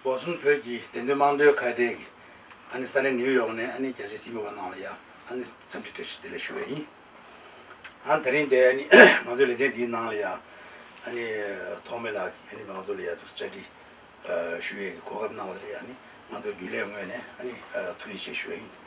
སྒོ་གསུམ་བོད་ཀྱི་བདེན་དོན་དམངས་གཙོའི་ཁ་བྲལ་གྱི་ཨ་ནི་ས་གནས་ནིའུ་ཡོག་ནས་ཨ་ནི་རྒྱ་ཆེའི་སྲིད་མི་བ་རྣམས་ལ་ཡང་ཨ་ནི་འཚམས་འདྲི་བཀྲ་ཤིས་བདེ་ལེགས་ཞུ་བས་ཡིན། ཨ་ནི་ད་རིང་འདས་ཨ་ནི་ང་ཚོའི་ལེ་ཚན་འདིའི་ནང་ལ་ཡང་ཨ་ནི་ཐོག་མེད་ལགས་ཀྱིས་ཨ་ནི་ང་ཚོ་ལ་ཡང་དུ་བཅར་འདྲི་ཞུ་ཡས་ཀྱི་གོ་སྐབས་གནང་བ་དེ་ལ་ཡང་ཨ་ནི་ང་ཚོའི་རྒྱུན་ལས་ངོས་ནས་ཨ་ནི་ཐུགས་རྗེ་ཆེ་ཞུ་བས་ཡིན།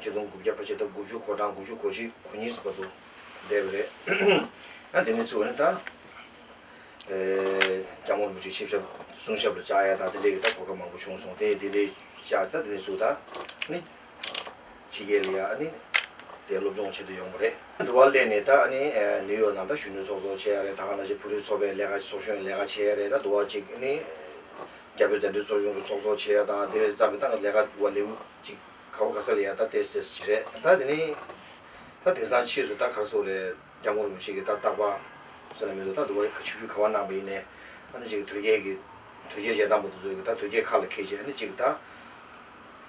ཆིག་སྟོང་དགུ་བརྒྱ་པ་ཕྱེད་དང་དགུ་བཅུ་གོ་གྲངས་དགུ་བཅུ་གོ་བཞི་གོ་གཉིས་ཟིན་པ་དུ་བསྡད་པ་རེད། དེ་ནས་བཅུ་བ་ནི་ད་སྐྱབས་མགོན་མུ་ཁྲི་ཆིབས་ཞབས་གསུང་ཞབས་ལ་བཅར་ཡ་དང་དེ་འདྲའི་གི་ད་གོ་སྐབས་མང་པོ་བྱུང་སོང་དེ་དེ་འདྲའི་བཅར་ད་དེ་ནས་བཅུ་ད་ནི་ཕྱི་རྒྱལ་ལ་ཡ་ནི་དེ་སློབ་སྦྱོང་བྱེད་དུ་ཡོང་པ་རེད། འདུ་བ་སླེབས་ནས་ད་ནི་ནིའུ་ཡོག་ནང་ད་གཞོན་ནུ་ཚོགས་གཙོ་བྱས་ཡ་རེད་ད་ག་ནང་བཞིན་བུ་རུའི་ཚོགས་པའི་ལས་ཀ་ཚོགས་གཞོན་ལས་ཀ་བྱས་ཡ་རེད་ད་འདུ་བ་གཅིག་ནི་རྒྱལ་པོའི་གདན་ཁྲི་ཚོགས་ཆུང་གི་ཚོགས་གཙོ་བྱེད་ཡ་དང་དེ་བས་རྩ་བའི་ཏང་གི་ལས་ཀ་བ་ལེའུ་གཅིག་ག་བ་ག་ས་ལ་ཡ་ད་དེ་ཟེར་ཞེས་རེད་ད་དེ་ནི། ད་དེང་སང་ཕྱིས་སུ་ད་གར་སོ་རེད་རྒྱ་མོ་རུ་ཞིག་གིས་ད་བཏགས་པ་ཟེར་ན་མི་འདུག་ད་འདུག་བ་ཆིག་ཆུ་ག་བ་གནང་བ་ཡིན་ནས་ཨ་ནི་ཅིག་དོལ་རྒྱལ་གྱི་དོལ་རྒྱལ་ཅེས་གནང་བ་དུ་ཚོད་ཀྱི་ད་དོལ་རྒྱལ་ཁ་ལ་ཁད་ཅིག་ཨ་ནི་ཅིག་ད།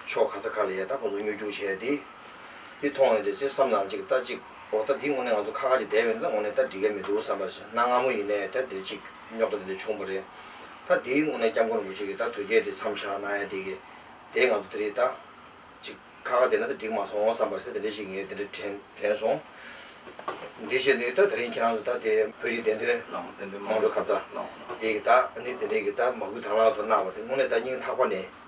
ཕྱོགས་ག་ཚ་ག་ལ་ཡལ་ད་ཁོ་ཚོ་སྨྱོ་སྐྱུག་བྱས་ཏེ། འདི་མཐོང་ཡོང་དེ་ཚེ་བསམ་ནང་གཅིག་ལྟ་གཅིག་འོ་ད་འདི་དངོས་གནས་ང་ཚོ་ཁ་ཁ་གཅིག་བསྡད་ཡོང་དེ་ད་དངོས་གནས་ད་འགྲིག་ཡ་མི་འདུག་བསམ་པར་གནང་སྔ་མོ་ཡིན་ནས་ད་འདིར་གཅིག་སྨྱོ་ད་འདི་འདྲ་བྱུང་བ་རེད་ད་འདི་དངོས་གནས་སྐྱབས་མགོན་རིན་པོ་ཆེ་གིས་ད་དོལ་རྒྱལ་འདི་མཚམས་བཞག་གནང་ཡ་འདི་གི་དེ་ང་ཚོ་འདི་རིགས་ད་གཅིག་ཁ་ཁ་བསྡད་ན་ད་འགྲིག་མ་སོང་བསམ་པར་ཚེ་འདི་འདྲ་ཞིག་ངས་འདི་འདྲ་དྲན་དྲན་སོང། འདི་བྱས་འདི་ད་ད་རིང་ཁྱེད་རང་ཚོ་ད་དེ་བོད་ཀྱི་བདེན་དོན། བདེན་དོན་མང་པོའི་ཁ་བརྡ། འདི་གི་ད་ནི་འདི་འདྲ་གི་ད་མ་སྐུལ་དྭངས་བླངས་ཚོར་གནང་བ་དེ་དངོས་གནས་ད་སྙིང་ཐག་པ་ནས།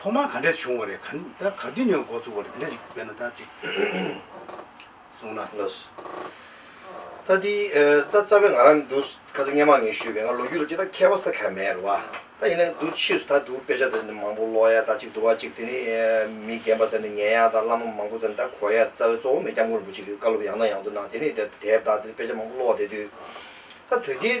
ཐོག་མར་ག་འདྲས་བྱུང་བ་རེད་ག་ད་ག་དུས་ནས་འགོ་ཚུགས་པ་རེད་དེ་འདྲ་ཞིག་དཔེར་ན་ད་ཅིག་གསུངས་ན་ལོས། ད་དེ་ད་རྩ་བའི་ང་རང་མི་འདུག་ཁ་ཚ་སྙན་མ་ངས་ཞུས་པའི་ང་ལོ་རྒྱུས་ལ་ཅི་ད་མཁས་པ་ས་ཁ་མེད་རེད་བ། ད་ཡིན་ན་འདུག་ཕྱིས་སུ་ད་འདུག་དཔེ་ཆ་དེ་འདྲ་མང་པོ་ཀློག་ཡ་ད་ཅིག་འདུག་བ་ཅིག་དེ་ནི་མི་རྒན་པ་ཚ་ནས་ཉན་ཡ་ད་བླ་མ་མང་པོ་ཚ་ནས་ད་གོ་ཡ་རྩ་བའི་གཙོ་བོ་མེད་སྐྱབས་མགོན་རིན་པོ་ཆེ་གི་བཀའ་སློབ་ཡང་དང་ཡང་དུ་གནང་དེ་ནས་དེབ་དག་དེ་དཔེ་ཆ་མང་པོ་ཀློག་བསྡད་དུས་ད་དོལ་རྒྱལ་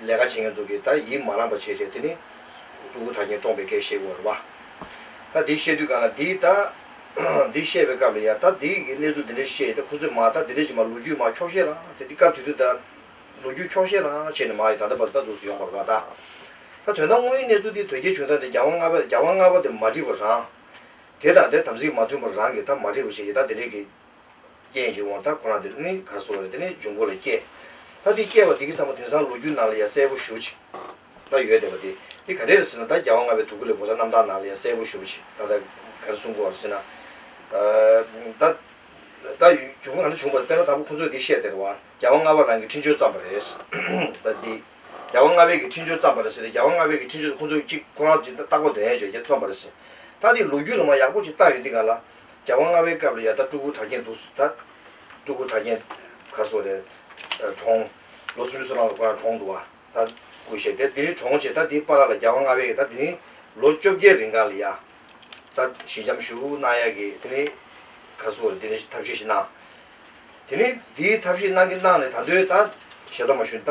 ལས་ཀ་བྱེད་མཁན་ཚོ་གིས་ད་ཡིད་མ་རངས་པ་བྱས་བྱས་དེ་ནི། སྤྲུལ་སྐུ་དྲ་རྒྱའི་བཀྲོངས་པའི་སྐད་བཤད་གོ་རེ་བ། ད་འདི་བཤད་དུས་གང་ལ་འདི་ད། འདི་བཤད་པའི་སྐབས་ལ་ཡ་ད་འདི་གི་གནས་ཚུལ་འདི་འདྲ་བཤད་ད་ཁོ་ཚོས་མ་ད་འདི་འདྲ་བྱས་མ་ལོ་རྒྱུས་མ་འཁྱོག་བཤད་རང་དེ་འདི་སྐབས་དེ་དུས་ད། ལོ་རྒྱུས་འཁྱོག་བཤད་རང་བྱས་ནས་མ་ཡི་ད་ད་བར་ད་དུ་སུ་ཡོང་གོ་རེ་བ་ད། ད་དོན་དང་དངོས་ཡིན་གནས་ཚུལ་འདི་དོལ་རྒྱལ་བྱུང་སྟངས་འདི་རྒྱ་བ་རྔ་བ་རྒྱ་བ་རྔ་བ་དེ་མ་འགྲིག་པ་རང། དེ་དང་དེ་དམ་ཚིག་མ་མཐུན་པ་རང་གིས་ད་མ་འགྲིག་པ་བྱས་ཡི་ད་འདི་འདྲས་ཀྱི། རྐྱེན་གྱིས་འོང་ད་ཁོ་རང་དེ་རིང་ནི་གར་སོང་བ་རེད་དེ་ནི་འབྱུང་པོ་ལ་སྐྱེས། ད་འདི་སྐྱེས་བ་འདི་གི་ཚང་མ་དེང་སང་ལོ་རྒྱུས་ནང་ལ་ཡང་གསལ་པོ་ཞུ་ཅིག། ད་ཡོད་བསྡད་པ་དེ་འདི་ག་རེ་རེད་ཟེར་ན་ད་རྒྱ་བ་ལྔ་པའི་དུ་གུ་ལའི་གོ་ས་རྣམ་དག་ནང་ལ་ཡང་གསལ་པོ་ཞུ་ཅིག་ད་ད་ག་རེ་གསུང་དགོ་བ་རེད་ཟེར་ན། ད། ད་འབྱུང་པོ་ག་འདྲ་བྱུང་བ་རེད་དཔེར་ན་ད་པོ་ཁོང་ཚོས་འདི་བཤད་བསྡད་རེད་བ་རྒྱ་བ་ལྔ་པ་རང་གི་འཕྲིན་བཅོལ་བརྩམས་པ་རེད། ད་འདི། རྒྱ་བ་ལྔ་པའི་གི་འཕྲིན་བཅོལ་བརྩམས་པ་རེད་ཟེར་ཏེ་རྒྱ་བ་ལྔ་པའི་གི་འཕྲིན་བཅོལ་དེ་ཁོང་ཚོས་ཅིག་ཁོ་རང་ཅིག་ཏག་པ་དོན་ཡོད་བྱས་རྒྱ་རྩོམ་པ་རེད་ཟེར། ད་འདི་ལོ་རྒྱུས་ལ་མ་ཡག་པོ་ཅིག་བཏགས་ཡོད་འདི་ག་ལ། བརྒྱ་བ་ལྔ་བའི་སྐབས་ལ་ཡར་ལྟ་སྤྲུལ་སྐུ་གྲགས་རྒྱན་འདུག་ཟེར། སྤྲུལ་སྐུ་གྲགས་རྒྱན་ག་སོགས་རེད། གྲོང། ལོ་སུམ་ཅུ་སོ་ནང་ལ་ཁོ་རང་གྲོངས་འདུག་བ། ད། སྐུ་གཤེགས་ཏེ་དེ་རིང་གྲོངས་བྱས་ད་དེའི་པཱ་ལགས་ལ་བརྒྱ་བ་ལྔ་བའི་གི་ད་དེ་རིང་ལོ་བཅོ་བརྒྱད་རིང་ག་ལ་ཡ། ད། ཞི་འཇམ་ཞུ། གནང་ཡ་གི་དེ་རིང། ག་སོགས་རེད་དེ་རིང་ཐབས་ཤེས་ཤིག་གནང། དེ་རིང་དེའི་ཐབས་ཤེས་གནང་གི་གནང་ནས་ད་འདོད་ད། ཞེ་ད་མ་ཞུ་ད།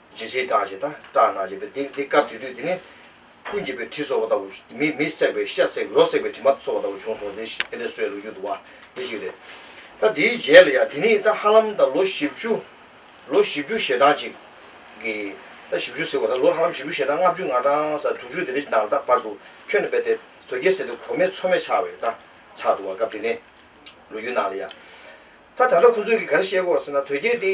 ཇི་སྲིད་བཀྲག་བྱེད་དང་སྐྲག་སྣང་བྱེད་དེ་དེ་སྐབས་དེ་དུས་དེ་ནས། ཀུན་གྱིས་པའི་དྲི་ཚོར་བ་ལྟ་བུ། མི་མི་བསྲེགས་པའི་ཤ་བསྲེགས་རོ་བསྲེགས་པའི་དྲི་མ་ཚོར་བ་ལྟ་བུ་བྱུང་སོང་དེ་ཞིག་དེ་འདྲའི་སྲོལ་ལུགས་ཡོད་འདུག་བ་འདི་ཞིག་རེད། ད་དེའི་རྗེས་ལ་ཡང་དེ་ནི་ད་ཧ་ལམ་ད་ལོ་བཞི་བཅུ། ལོ་བཞི་བཅུ་ཞེ་གྲངས་ཅིག་གི། ད་བཞི་བཅུ་ཟེར་བ་ད་ལོ་ཧ་ལམ་བཞི་བཅུ་ཞེ་གྲངས་ལྔ་བཅུ་ང་གྲངས་ས་དྲུག་ཅུ་དེ་འདྲའི་ནང་ད་བར་དུ་ཁྱོན་ནས་བས་ཏེ་དོལ་རྒྱལ་ཟེར་དེ་གོ་མེད་ཚོར་མེད་ཆགས་བས་ད་ཆགས་འདུག་བ་སྐབས་དེ་ནས། ལོ་རྒྱུས་ནང་ལ་ཡང། ད་ད་ལྟ་ཁོ་ཚོས་གི་ག་རེ་བཤད་སྐོར་ཟེར་ན་དོལ་རྒྱལ་དེ།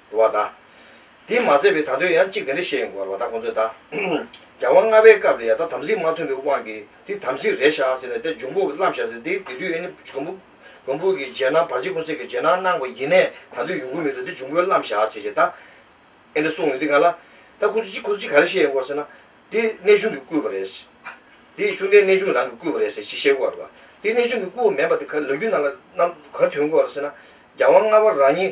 བ་དང། དེས་མ་ཚད་པའི་ད་དོན་ཡང་གཅིག་དེ་འདྲ་བཤད་ཡོང་དགོས་བ་ལ་ད་ཁོང་ཚོས་ད། རྒྱལ་དབང་ལྔ་པའི་སྐབས་ལས་ཡང་ད་དམ་ཚིག་མ་མཐུན་པའི་དབང་གིས་དེ་དམ་ཚིག་རེད་བཞག་ཟེར་ནས་དེ་འབྱུང་པོ་བརླམས་བཞག་ཟེར་དེ་དེ་དུས་ཨེ་ནི་འབྱུང་པོ། འབྱུང་པོ་གི་རྗེས་གནང་བར་ཆད་ཀུན་ཟད་ཀྱི་རྗེས་གནང་གནང་བ་ཡིན་ནས་ད་དུས་ཡོང་གི་མི་འདུག་དེ་འབྱུང་པོས་བརླམས་བཞག་བྱས་བྱས་ད། ཨེ་འདྲ་གསུངས་ཡོང་དུས་ག་ལ། ད་ཁོང་ཚོས་གཅིག་ཁོང་ཚོས་གཅིག་ག་རེ་བཤད་ཡོང་གོ་ཟེར་ན། དེ་གནས་ཆུང་གིས་བསྐུལ་བ་རེད། དེ་གཞུང་འབྲེལ་གནས་ཆུང་རང་གིས་བསྐུལ་བ་རེད་ཟེར་གཅིག་བཤད་གོ་རེད། དེ་གནས་ཆུང་གིས་བསྐུལ་བ་མིན་པ་དེ་ག་ལ་ལོ་རྒྱུས་ནང་ལ་གནང་ག་རེ་དོན་གོ་རེད་ཟེར་ན། རྒྱལ་དབང་ལྔ་པ་རང་ཉིད་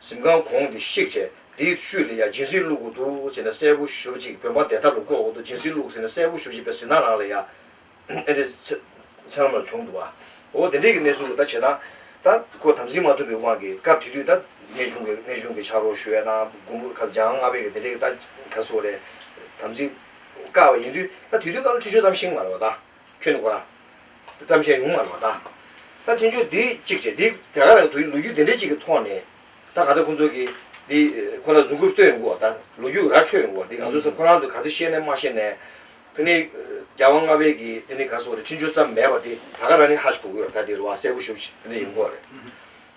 གཟིམ་ཁང་གོང་དེ་བཤིག་བྱས་དེའི་བཤུལ་ལས་ཡང་སྦྱིན་སྲེག་བླུག་དགོས་འདུག་ཅེས་ན་གསལ་པོ་ཞུ་ཅིག་བོད་འབངས་བསྡད་ཐབས་ལ་བཀོད་འོག་ཏུ་སྦྱིན་སྲེག་བླུག་ཟེར་ན་གསལ་པོ་ཞུ་ཅིག་པའི་ཟིན་ཐང་རང་ལ་ཡང་ཨེ་འདྲའི་མཚན་མ་ལ་བྱུང་འདུག་བ། འོ་དེ་འདྲའི་གི་གནས་ཚུལ་ལ་ད་བྱེད་ན། ད་ཁོ་དམ་འཛིན་མ་ཐུབ་པའི་དབང་གིས་སྐབས་དེ་དུས་ད་གནས་ཆུང་གི་གནས་ཆུང་གི་ཕྱག་རོགས་ཞུ་ཡ་ན་དགུང་པོ་ཁ་འཇང་ལྔ་པའི་གི་དེ་འདྲའི་གི་ད་ག་ཚོད་རེད་དམ་འཛིན་དཀའ་བ་ཡིན་དུས་ད་དུས་དུས་སྐབས་ལ་ཆུ་ཆོད་ཙམ་ཤིང་མ་རེད་བ་ད། ཁྱོད་ནི་ཁོ་རང། བརྩམས་ཆོས་ཉུང་མ་ལོ་ད། ད་འཕྲིན་ཆུང་འདི་གཅིག་བྱས་འདི་དེ་ག་ལ་དུས་ལོ་རྒྱུས་འདི་འདྲའི་གཅིག་གི་ཐོག་ནས། ད་ག་ཚོད་ཁོང་ཚོ་གིས་འདི་ཁོ་ན་རྫུན་ཁུར་བསྟོད་ཡོང་གི་འོག་ད་ལོ་རྒྱུས་ར་འཕྲོད་ཡོང་གི་འོག་འདི་ང་ཚོ་ཚོ་ཁོ་རང་ཚོ་ག་ཚོད་ཤེས་ནས་མ་ཤེས་ནས། དེ་ནི་རྒྱ་དབང་ལྔ་པའི་གིས་དེ་ནི་ག་སོགས་རེད་འཕྲིན་ཆུང་བརྩམས་མེད་པ་དེ་ད་ག་རང་ནི་ཧ་ཅིག་གོ་གི་ཡོད་རེད་ད་དེ་རུ་བ་གསལ་པོ་ཞུ་བྱས་ནི་ཡོང་གི་འོག་རེད།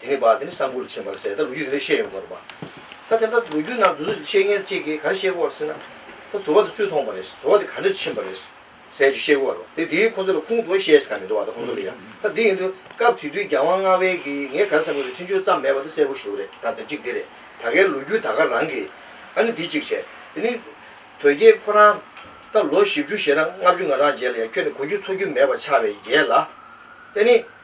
དེ་ནས་བར་དེ་ནས་ས་འགུལ་ཆེན་པར་ཟད་ད་ལོ་རྒྱུས་དེ་འདྲ་བཤད་ཡོང་དགོས་རེད་པ། ད་དེ་འདྲ་ལོ་རྒྱུས་ནང་དུ་བཤད་མཁན་གཅིག་གིས་ག་རེ་བཤད་གོ་བར་སེམས་ན། དུ་བ་དེ་སུས་མཐོང་བ་རེད། དུ་བ་དེ་ག་འདྲ་ཕྱིན་པ་རེད། ཟས་ཅིག་བཤད་གོ་བར་རོ། དེ་དེའི་ཁོང་ཚོ་ལ་ཁུངས་དུ་བ་བཤད་ས་ག་མི་འདུག་བ་ད་ཁོང་ཚོ་ལ་ཡང་ད་དེ་ཡིན་དུས་སྐབས་དེ་དུས་རྒྱ་དབང་མངའ་དབལ་གིས་ངས་ག་རེ་བསམ་གོ་རེད་འཕྲིན་བཅོལ་ཙམ་མེད་པ་དེ་གསལ་པོ་ཞུ་རེད་ད་དེབ་ཅིག་དེ་རེད་ད་གའི་ལོ་རྒྱུས་ད་ག་རང་གིས་ཨ་ནི་འདི་གཅིག་བྱས་དེ་ནི། དོལ་རྒྱལ་ཁོ་རང། ད་ལོ་བཞི་བཅུ་ཞེ་ན་ལྔ་བཅུ་ང་རང་རྗེས་ལ་ཡང་ཁྱོད་ནི་གོ་རྒྱུ་འཚོ་རྒྱུ་མེད་པ་ཆགས་པའི་རྒྱལ་ལ། དེ་ནི།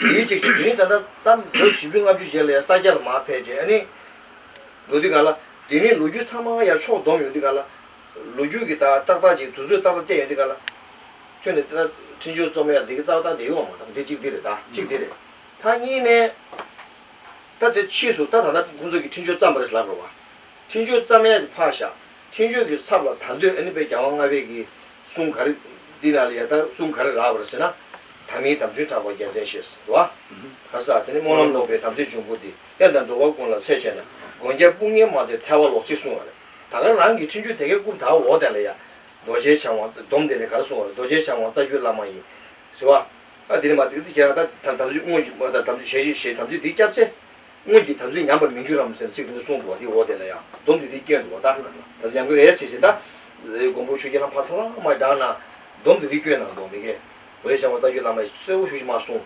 ཡུལ་གཅིག་ཤོད་དེ་རིང་ད་ལྟ་སྐབས་ལོ་བཞི་བཅུ་ལྔ་བཅུ་རྗེས་ལ་ཡང་ས་སྐྱ་ལ་མར་ཕེབས་རྗེས་ནི། འགྲོ་དུས་ག་ལ། དེ་རིང་ལོ་རྒྱུས་ཚང་མ་ཡར་ཕྱོགས་བསྡོམས་ཡོང་དུས་ག་ལ། ལོ་རྒྱུས་ཀྱི་དག་ཏག་ཏག་ཅིག་དུས་ཚོད་ཏག་ཏག་བསྟན་ཡོང་དུས་ག་ལ། ཁྱོད་ནི་འདི་ལྟ་འཕྲིན་སྦྱོར་རྩོམ་ཡག་འདི་གི་རྩ་བ་དག་འདི་ཡོང་མ་ཐག་འདི་གཅིག་འདི་རེད་ད་གཅིག་འདི་རེད། ཐག་གཉིས་ནས། ད་དེ་ཕྱིས་སུ་ད་ད་ལྟ་ཁོང་ཚོ་གིས་འཕྲིན་སྦྱོར་བརྩམས་པ་རེད་ལབ་རོགས། འཕྲིན་སྦྱོར་བརྩམས་ཡག་གི་ཕག་ཞག། ཕྲིན་བཅོལ་གྱི་ཚབ་ལ་ད་འདོད་ཨ་ནི་པའི་རྒྱལ་བ་ལྔ་བས་ཀྱིས་གསུང་ག་རེ། འདི་ན་ལ་ཡ་ད་གསུང་ག་རེ་རགས་པར་ཟེར་ན། ད་མིའི་དམ་ཆོས་གྲགས་པ་རྒྱལ་མཚན་ཞེས་ཟེར་བ། གར་ས་དེ་ནི་སྨོན་ལམ་ལོག་པའི་དམ་ཚིག་འབྱུང་པོ་སྟེ་དཔལ་དང་འགྲོ་བ་ཀུན་ལ་འཚེ་བྱས་ན་དགོན་རྒྱལ་དཔུང་གཉེན་མ་ཚེ་ཐལ་བ་ལོག་ཅིག་གསུང་བ་རེད་ད་གར་རང་གིས་ཕྲིན་བཅོལ་དེ་གའི་རྐུབ་དག་འོག་དེ་ལ་ཡ། རྡོ་རྗེ་འཆང་བ་སྡོམ་དེ་ལས་གར་གསུང་བ་རེད་རྡོ་རྗེ་འཆང་བ་རྩ་རྒྱུད་བླ་མ་ཡིན། ཟེར་བ། ཨ་དེ་ནི་མ་དེ་ཁྱེད་རང་ད་དམ་ཚིག་དམོད་ཀྱི་མ་ད་དམ་ཚིག་བྱེད་ཅིག་ཞེས་དམ་ཚིག་འདི་བསྐྱབས་ཚེ། སྔོན་གྱི་དམ་ཚིག་ཉམས་པར་མི་འགྱུར་རམ་ཟེར་ཚིག་འདི་འདི་གསུངས་འདུག་བ་དེའི་འོག་དེ་ལ་ཡང་སྡོམ་འདི་འདི་བཀྱོན་འདུག་བ་ལྟར་ན་ད་ཡང་གི་རེ་ཞེས་བྱེད་ད་རེའི་མགོན་པོ་ཆོས་རྒྱལ་བླ་མ་ཚང་མ་ཡི་དག་ན་སྡོམ་འདི་འདི་བཀྱོན་ན་འདོགས་མི་དགེ། འོད་བྱང་བ་རྟ་རྒྱུད་བླ་མ་ཡི་གསོལ་བ་ཞུ་ཞིག་མ་གསུངས།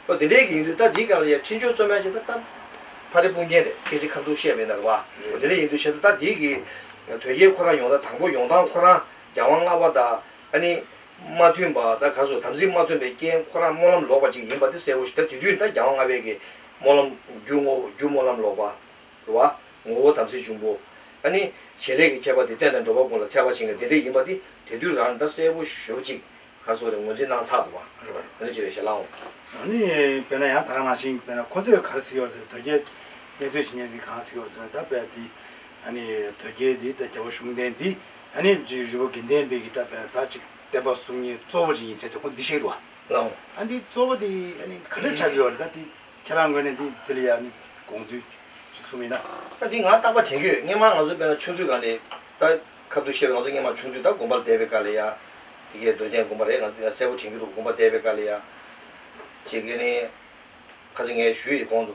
ཨོ་དེ་འདྲའི་གི་ཡིན་དུས་ད་འདི་སྐད་ལ་ཡ་ཕྲིན་ཆོག་རྩོད་མེད་བྱེད་ད་ད། ཕ་རི་སྤུན་རྒྱན་རེད་ཁྱེད་ཅི་ཁ་མཚུག་ཤེས་མེད་ན་རེད་བ། ཨོ་དེ་འདྲ་ཡིན་དུས་བྱེད་ད་ད་འདི་གི། དོལ་རྒྱལ་ཁོ་རང་ཡོང་ད་དང་པོ་ཡོང་སྟངས་ཁོ་རང་རྒྱལ་དབང་ལྔ་བ་ད་ཨ་ནི། མ་མཐུན་པ་ད་ག་ཚོད་དམ་ཚིག་མ་མཐུན་པའི་རྐྱེན་ཁོ་རང་སྨོན་ལམ་ལོག་པ་ཅིག་ཡིན་པ་འདི་གསལ་བོ་ཞིག་ད་དེ་དུས་ད་རྒྱལ་དབང་ལྔ་བས་གི་སྨོན་ལམ། རྒྱུ་ངོ་བོ་རྒྱུ་སྨོན་ལམ་ལོག་པ། བ། ངོ་བོ་དམ་ཚིག་འབྱུང་པོ། ཨ་ནི། བྱེད་ལས་ཀྱི་ཁྱད་པར་དེ་རྟེན་དང་འགྲོ་བ་ཀུན་ལ་ཚད་པར་བྱིན་ལ་དེ་འབྲས་ཡིན་པ་དེ་དེ་དུས་རང་འདྲ་གསལ་པོ་ཞོབ་ཅིག། གར་སོགས་ལས་ངོས་འཛིན་གནང་ཚག་ཏུ་བ། རེད་བ། ཨ་ནི་ཅི་རེད་ཞེས་ལང་ངོ། ཨ་ནི། དཔེར་ན་ཡང་དག་ནང་བཞིན་དཔེར་ན་ཁོ་ཚོས་གར་གཟིགས་ཡོད་ཟེར་དོལ་རྒྱལ། གནས་ཚུལ་ཇི་སྙེད་ཟིག་གང་གཟིགས་ཡོད་ཟེར་ན་ད་དཔེར་འདི། ཨ་ནི། དོལ་རྒྱལ་འདི་ད་རྒྱལ་པོ་གཞུང་བསྟེན་འདི། ཨ་ནི། རི་བོ་དགེ་ལྡན་འདི་ཀྱི་ད་དཔེར་ན་ད་ཅིག་བསྟན་པ་གསུམ་གཉིས་གཙོ་བོ་ཅིག་ཡིན་ཚེ་དེ་ཁོ་འདི་ཤེས་ཀྱི་འདུག་བ། ལའོ། ཨ་འདི་གཙོ་བོ་འདི་ཨ་ནི་ག་འདྲ་ཆགས་ཀྱི་ཡོད་རེད་ད་འདི་ཁྱེད་རང་ངོས་ནས་འདི་འདི་ལ་ཡ་ཨ་ནི་དགོངས་ཚུལ་གཅིག་གསུངས་མིན་ན། ཨ་འདི་ང་རྟག་པ་དྲན་གྱི་ཡོད་སྔན་མ་ང་ཚོ་དཔེར་ན་ཆུང་དུས་གང་དེ་ད་ཁབ་ཏུ་བཤད་པའི་ང་ཚོ་སྔན་མ་ཆུང་དུས་ད་དགོན་པ་ལ་བསྡད་པའི་སྐར་ལ་ཡ་ཨ་འདི་གའི་འདོད་ཆེན་དགོན་པ་རེད་ང་ང་གསལ་པོ་དྲན་གྱི་འདུག་དགོན་པ་བསྡད་པའི་སྐར་ལ་ཡ་ཨ་འདི་ག་ནི་ཁ་ཚོད་ངའི་ཞུ་ཡི་གོང་དུ།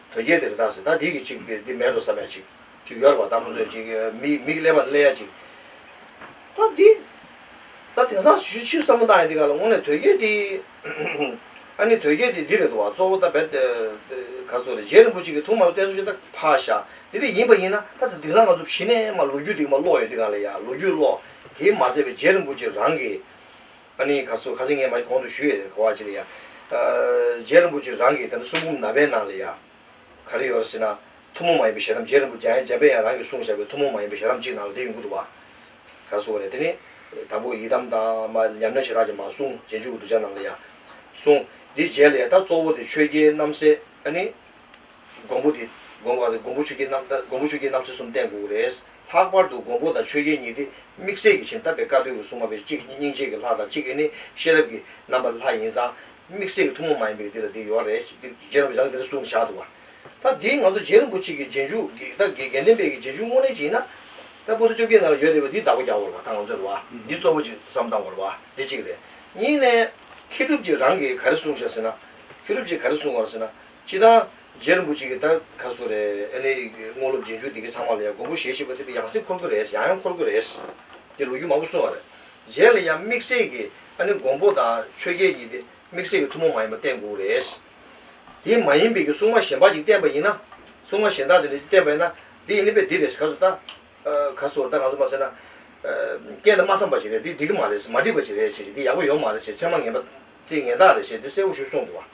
དོལ་རྒྱལ་དེ་རི་དྭགས་ཟེར་ད་དེ་གི་ཅིག་དེ་མལ་འགྲོ་ས་མལ་ཅིག་ཅིག་ཡོད་རེད་པ་ད་ཁོང་ཚོས་ཅིག་མིག་མིག་ཀླད་པ་ཀླད་ཡ་ཅིག་ད་དེ་ད་དེང་སང་ཞུ་ཕྱིར་བསམ་བློ་བཏང་ཡ་དེ་ག་ལ་དངོས་གནས་དོལ་རྒྱལ་དེ་ཨ་ནི་དོལ་རྒྱལ་དེ་འདི་རེད་འདུག་བ་གཙོ་བོ་ད་བེད་ག་ཚོ་རེད་རྗེ་རིན་པོ་ཆེ་གི་ཐུགས་མ་ལ་གཏད་སོ་ཅིག་ད་ཕ་ཤ་དེ་རིགས་ཡིན་པ་ཡིན་ན་ད་དེ་དེང་སང་ང་ཚོ་གཞི་ནས་མ་ལོ་རྒྱུས་དེ་ག་མ་ཀློག་ཡོད་དེ་ག་ལ་ཡ་ལོ་རྒྱུས་ཀློག་དེ་མ་ཟེར་བའི་རྗེ་རིན་པོ་ཆེ་རང་གི་ཨ་ནི་ག་ཚོད་ག་ཚོད་ངས་མ་གོང་དུ་ཞུས་ཡོད་གོ་བ་ཅི་ལ་ཡ། རྗེ་རིན་པོ་ཆེ་རང་གིས་དེ་འདྲ་གསུང་རྒྱུ་མ་པའི་ནང་ལ་ཡ། ག་རེ་ཡོད་རེ་ཟེར་ན། ཐུན་མོང་མ་ཡིན་པའི་ཞལ་གདམས་རྗེ་རིན་པོ་རྒྱ་ཡན་འཇམ་དཔལ་ཡང་རང་གིས་གསུང་བཞག་པའི་ཐུན་མོང་མ་ཡིན་པའི་ཞལ་གདམས་གཅིག་ནང་ལ་དེ་ཡོང་གི་འདུག་བ། ག་རེ་གསུང་བ་རེད་དེ་ནི། དང་པོ་ཡི་དམ་དང། མ་ཉམས་ན་ཞེ་དྲག་ཅིག་མ་གསུང་རྗེས་འཇུག་གི་གདུལ་བྱ་ནང་ལ་ཡ། གསུང། འདི་བརྒྱད་ལས་ད་གཙོ་བོ་དེ་ཆོས་རྒྱལ་རྣམ་སྲས་ཨ་ནི། མགོན་པོ་དེ་དགོངས་པ་ལས་མགོན་པོ་ཆོས་རྒྱལ་རྣམ་མགོན་པོ་ཆོས་རྒྱལ་རྣམ་ཚེ་གསུམ་བསྟན་དགུ་རེས་ལྷག་པར་དུ་མགོན་པོ་དང་ཆོས་རྒྱལ་གཉིས་ཏེ་དམིགས་བསལ་གྱི་ཕྱིན་བཏབ་པའི་བཀའ་སྡོད་ཀྱི་སྲུང་མ་བས་གཅིག་གིས་སྙིང་རྗེ་གི་ལྷ་དང་གཅིག་གིས་ནི་ཤེས་རབ་ཀྱི་རྣམ་པ་ལྷ་ཡིན་ཙང་དམིགས་བསལ་གྱི་ཐུན་མོང་མ་ཡིན་པའི་འདི་ལ་འདི་ཡོད་རེད་ཅེས་རྗེ་རིན་པོ་ཆེ་རང་གིས་དེ་འདྲ་གསུངས་བཞག་འདུག་བ། ད་འདིའི་ང་ཚོ་རྗེ་རིན་པོ་ཆེ་གི་རྗེས་འཇུག་གི་ད་གེ་རྒན་ལྡན་པའི་གི་རྗེས་འཇུག་དངོས་གནས་ཅིག་ཡིན་ན། ད་པོ་ཏི་བཅོ་བརྒྱད་ནང་ལ་ཡོད་བསྡད་པའི་འདིའི་བདག་པོ་རྒྱ་བོར་བ་ད་ང་ཚོས་རེད་བ། འདི་གཙོ་བོ་ཅིག་བསམ་སྟངས་བར་བ། འདི་གཅིག་རེད། གཉིས་ནས། མཁས་གྲུབ་ཀྱིས་རང་གིས་ག་རེ་གསུངས་བཞག་ཟེར་ན། མཁས་གྲུབ་ཀྱིས་ག་རེ་གསུངས་བར་ཟེར་ན། སྤྱི་དང། རྗེ་རིན་པོ་ཆེ་གི་ད་ག་སུ་རེད་ཨེ་ནི་དངོས་སློབ་རྗེས་འཇུག་འདི་གི་ཚང་མ་ལ་ཡང་མགོན་པོ་ཞེས་ཞེས་པ་འདི་པའི་ཡང་སྲིད་འཁོར་གི་རེད་ཡང་ཡང་འཁོར་གི་རེད། འདི་ལོ་རྒྱུས་མང་པོ་གསུང་བ་རེད། རྗེས་ལ་ཡང་དམིགས་བསལ་གི་ཨ་ནི་མགོན་པོ་དང་ཆོས་རྒྱལ་གྱིས་འདི་དམིགས་བསལ་གི་ཐུན་མོང་མ་ཡིན་པ་བསྟན་དགོས་རེད། དེ་མ་ཡིན་པའི་གི་སྲུང་མ་གཞན་པ་ཅིག་བསྟན་པ་ཡིན་ན། སྲུང་མ་གཞན་དག་འདི་འདྲ་ཅིག་བསྟན་པ་ཡིན་ན། འདི་ཡིན་ནི་པས་འདི་རེད་ག་སུ་ད། ག་སུ་རེད་ད་ང་ཚོ་མ་ཟེར་ན། རྐྱེན་དང་མ་འཚམས་པ་ཅིག་རེད་འདི་འགྲིག་གི་མ་རེད་མ་འགྲིག་པ་ཅིག་རེད་ཅེས་འདི་ཡག་པོ་ཡོད་མ་རེད་ཅེས་མཚན་མ་ངན་པ། དེ་ངན་རྟགས་རེད་ཅེས་འདི་གསལ་བོ་ཞུ་གསུང་དགོས་པ།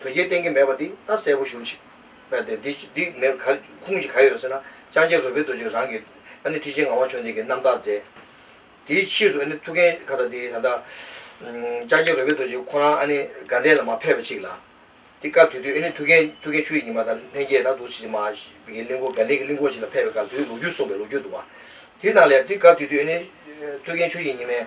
དོལ་རྒྱལ་བསྟེན་གྱི་མེད་པ་དེ་ད་གསལ་པོ་ཞུ་ཅིག། ཨ་དེ་འདི་འདི་མེད་ག་ཁུངས་ཀྱི་ག་ཡོད་རེད་ཟེར་ན། ལྕང་སྐྱ་རོལ་པའི་རྡོ་རྗེས་རང་གི། ཨ་ནི་ཁྲི་ཆེན་ངག་དབང་ཆོས་འདས་ཀྱི་རྣམ་དག་མཛད། དེའི་ཕྱིས་སུ་ཨ་ནི་ཐུགས་འགན་ཁ་ད་དེ་ད་ལྟ། ལྕང་སྐྱ་རོལ་པའི་རྡོ་རྗེ་ཁོ་རང་ཨ་ནི་དགའ་ལྡན་ལ་མ་ཕེབས་པ་ཅིག་ལ། དེ་སྐབས་དུས་དུས་ཨ་ནི་ཐུགས་འགན་ཐུགས་འགན་ཆུ་ཡི་ཉི་མ་དང་ལྷན་རྒྱས་ད་དུ་ཕྱི་མ། གི་གླིང་སྐོར་དགའ་ལྡན་གྱི་གླིང་སྐོར་ཞིག་ལ་ཕེབས་པའི་སྐབས་དེའི་ལོ་རྒྱུས་གསུངས་པའི་ལོ་རྒྱུས་འདུག་བ། དེ་རྣམས་ལས་དེ་སྐབས་དུས་དུས་ཨ་ནི། ཐུགས་འགན་ཆུ་ཡི་ཉི་མའི།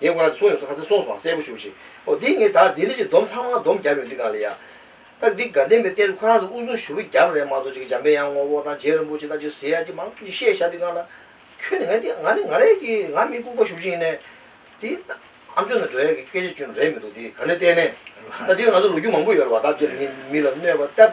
ངས་ཁོ་རང་གི་གསུང་ཡོངས་སུ་ཁ་ཚ་སོང་སོང་གསལ་པོ་ཞུ་ཞིག་ཨོ་དེ་ངས་ད་འདི་འདྲ་ཞིག་སྡོམ་ཚང་མ་སྡོམ་བརྒྱབ་ཡོང་འདི་གང་ལ་ཡ། ད་འདི་དགའ་ལྡན་པའི་གཏེར་ཁོ་རང་ཚོ་དབུ་ཟུང་ཞུ་བའི་རྒྱབ་རེད་མ་གཏོགས་ཅིག་འཇམ་པའི་དབྱངས་དངོས་པོ་དང་རྗེ་རིན་པོ་ཆེ་དང་ཅིག་ཟེར་ཡ་ཅིག་མང་ཚོགས་ཀྱིས་བཤད་བཞག་འདི་གང་ལ། ཁྱོད་ནི་ང་འདི་ང་ནི་ང་རེད་ཀྱི་ང་མི་ལྐུགས་པ་ཞུ་བཞིན་ནས། འདི། ཨ་མཆོག་ནི་འགྲོ་ཡ་གི་སྐད་ཆ་བཅོས་ནོ་རེད་མི་འདུག་འདི་ག་ནས་བལྟས་ནས། ད་འདི་ལ་ང་ཚོ་ལོ་རྒྱུས་མང་པོ་ཡོད་རེད་བ་ད་འདིར་མི་མི་ལ་གནོད་པ་སྟབས།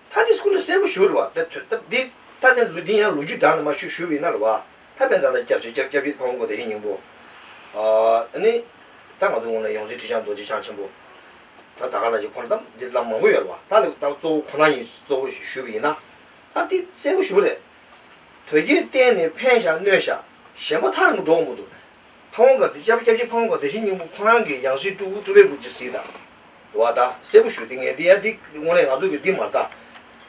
ད་འདི་སྐུ་ལ་གསལ་པོ་ཞུ་རུ་བ། ད་ཐོས་སྟབས་འདི་ད་ནི་ལུས་འདི་ཡང་ལོ་རྒྱུས་དག་ནི་མ་ཞུ་ཞུ་བས་ན་རུ་བ། ད་བན་དང་ད་སྐྱབས་བྱེད་སྐྱབས་སྐྱབས་བྱེད་དཔའ་བོ་མགོན་དེ་ཡི་སྙིང་པོ། ཨ་ནི། ད་ང་ཚོ་ངོས་ན་ཡོངས་འཛིན་ཁྲི་བྱང་རྡོ་རྗེ་འཆང་ཆེན་པོ། ད་ད་ག་ལ་བྱེད་ཁོ་ན་སྟབས་འདི་བླ་མ་མང་པོ་ཡོད་རུ་བ། ད་ལེགས་ད་གཙོ་བོ་ཁོ་ན་ཡིན་གཙོ་བོ་ཞུ་བས་ན། ད་འདི་གསལ་པོ་ཞུ་རེད། དོལ་རྒྱལ་བསྟན་ནི་འཕན་ཞག་གནོད་ཞག། གཞན་པ་མཐར་འགྲོ་མུ་འདུག། ཕ་བོང་ག་དུས་བཅད་པ་སྐྱབས་རྗེ་ཕ་བོང་ག་དེ་བཞིན་སྙིང་པོ་ཁོང་རང་གི་ཡང་སྲིད་སྤྲུལ་སྐུ་ཁྲོ་བོའི་སྐུ་ཇི་སྲིད་དང། བ་དག་གསལ་པོ་ཞུ་འདི་ངས་འདི་ཡང་འདི་དངོས་གནས་ང་ཚོ་གི་འདི་མ་རྟགས།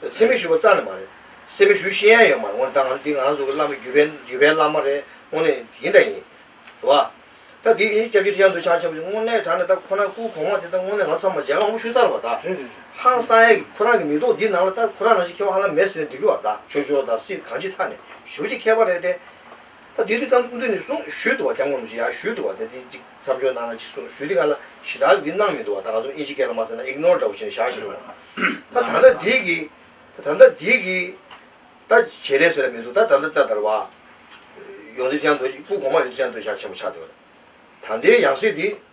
ཚད་མེད་ཞུ་བ་རྩ་ནས་མ་རེད། སེམས་མེད་ཞུ་ཤེས་ཡ་ཡོད་མ་རེད་དངོས་ནས་ད་ང་ཚོ་འདི་ང་རང་ཚོ་གི་བླ་མ་བརྒྱུད་པའི་བརྒྱུད་པའི་བླ་མ་རེད་དངོས་གནས་ཡིན་ད་ཡིན། བ་དག་འདི་ཡིན་སྐྱབས་རྗེ་ཁྲི་བྱང་འདུལ་བྱང་ཆེན་པོ་ཞུ་དངོས་གནས་དྲ་ནས་ད་ཁོ་ན་སྐུ་གོང་མ་དེ་ད་དངོས་གནས་ང་ཚོ་ཚང་མ་མཇལ་ཁ་མང་པོ་ཞུས་ཚར་བ་དག། ཧང་སང་ཡ་གི་ཁོ་རང་གི་མི་ཐོག་འདི་ནང་ལ་ད་ཁོ་རང་རང་བཞིན་ཁེ་བ་ཧ་ལམ་མེད་ཟེར་ནས་འགྲིག་གི་བ་དག་ཆོས་འབྱོར་དང་སྲིད་གང་ཅི་ཐ་ནས་ཞུ་བྱེད་མཁས་པ་རེད་དེ། ད་དུས་དེ་ག་ཀུན་ཏུ་ནི་གསུང་ཞུས་འདུག་བ་རྒྱམ་གང་རུང་ཅི་ཡང་ཞུས་འདུག་བ་དེ་དེ་ཅིག་མཚམས་སྦྱོར་གནང་ན་ཅིག་གསུང་ཞུས་དེ་ག་ལ་ཞི་དྲག་གི་གནང་མི་འདུག་བ་ད་ང་ཚོ་ཨིན་ཇི་སྐད་ལ་མ་ཟེར་ན ignore འདྲ་བོ་བྱས་ནས་བཞག་བཞིན་ཡོད། ད་ད་ལྟ་འདིས་གི། ད་ད་ལྟ་འདིས་གི། ད་བྱེད་ལས་ཟེར་བ་མི་འདུག་ད་ད་ལྟ་ད་དར་བ། ཡོང་ཚེ་ཅི་ཡང་འདོད་སྐུ་གོང་མ་ཡོང་ཚེ་ཅི་ཡང་འདོད་བཞག་ཆེན་པོ་ཆགས་འདོད། ད་འདིའི་ཡང་སྲིད་འདི།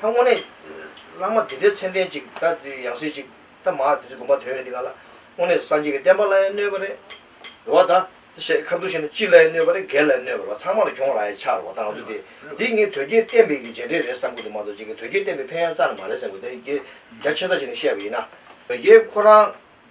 ད་དངོས་གནས། བླ་མ་དེ་འདྲའི་མཚན་ལྡན་ཅིག་ད་འདི་ཡང་སྲིད་ཅིག་ད་མ་འདི་འདྲའི་དགོངས་པ་དོན་ཡོད་འདི་ག་ལ། དངོས་གནས་སངས་རྒྱས་ཀྱི་བསྟན་པ་ལ་ཡང་གནོད་པ་རེད། འགྲོ་བ་ད། ཞེས་ཁ་བསྡུ་བྱས་ན་སྤྱི་ལ་ཡང་གནོད་པ་རེད་སྒེར་ལ་ཡང་གནོད་པ་རེད་ཚང་མ་ལ་གྱོང་རག་ཡ་ཆགས་རོགས་ད་ང་ཚོ་འདི། འདི་ངས་དོལ་རྒྱལ་བསྟན་པའི་རྗེས་འབྲེལ་རེད་བསམ་ཁུལ་དུ་མ་གཏོགས་ཅི་གི་དོལ་རྒྱལ་བསྟན་པའི་ཕན་ཡང་རྩ་ནས་མ་རེད་བསམ་ཁུལ་དོལ་རྒྱལ་རྒྱ་ཆེ་ས་ཞིག་ནས་བཤད་པ་ཡིན་ན། དོལ་རྒྱལ་ཁོ་རང།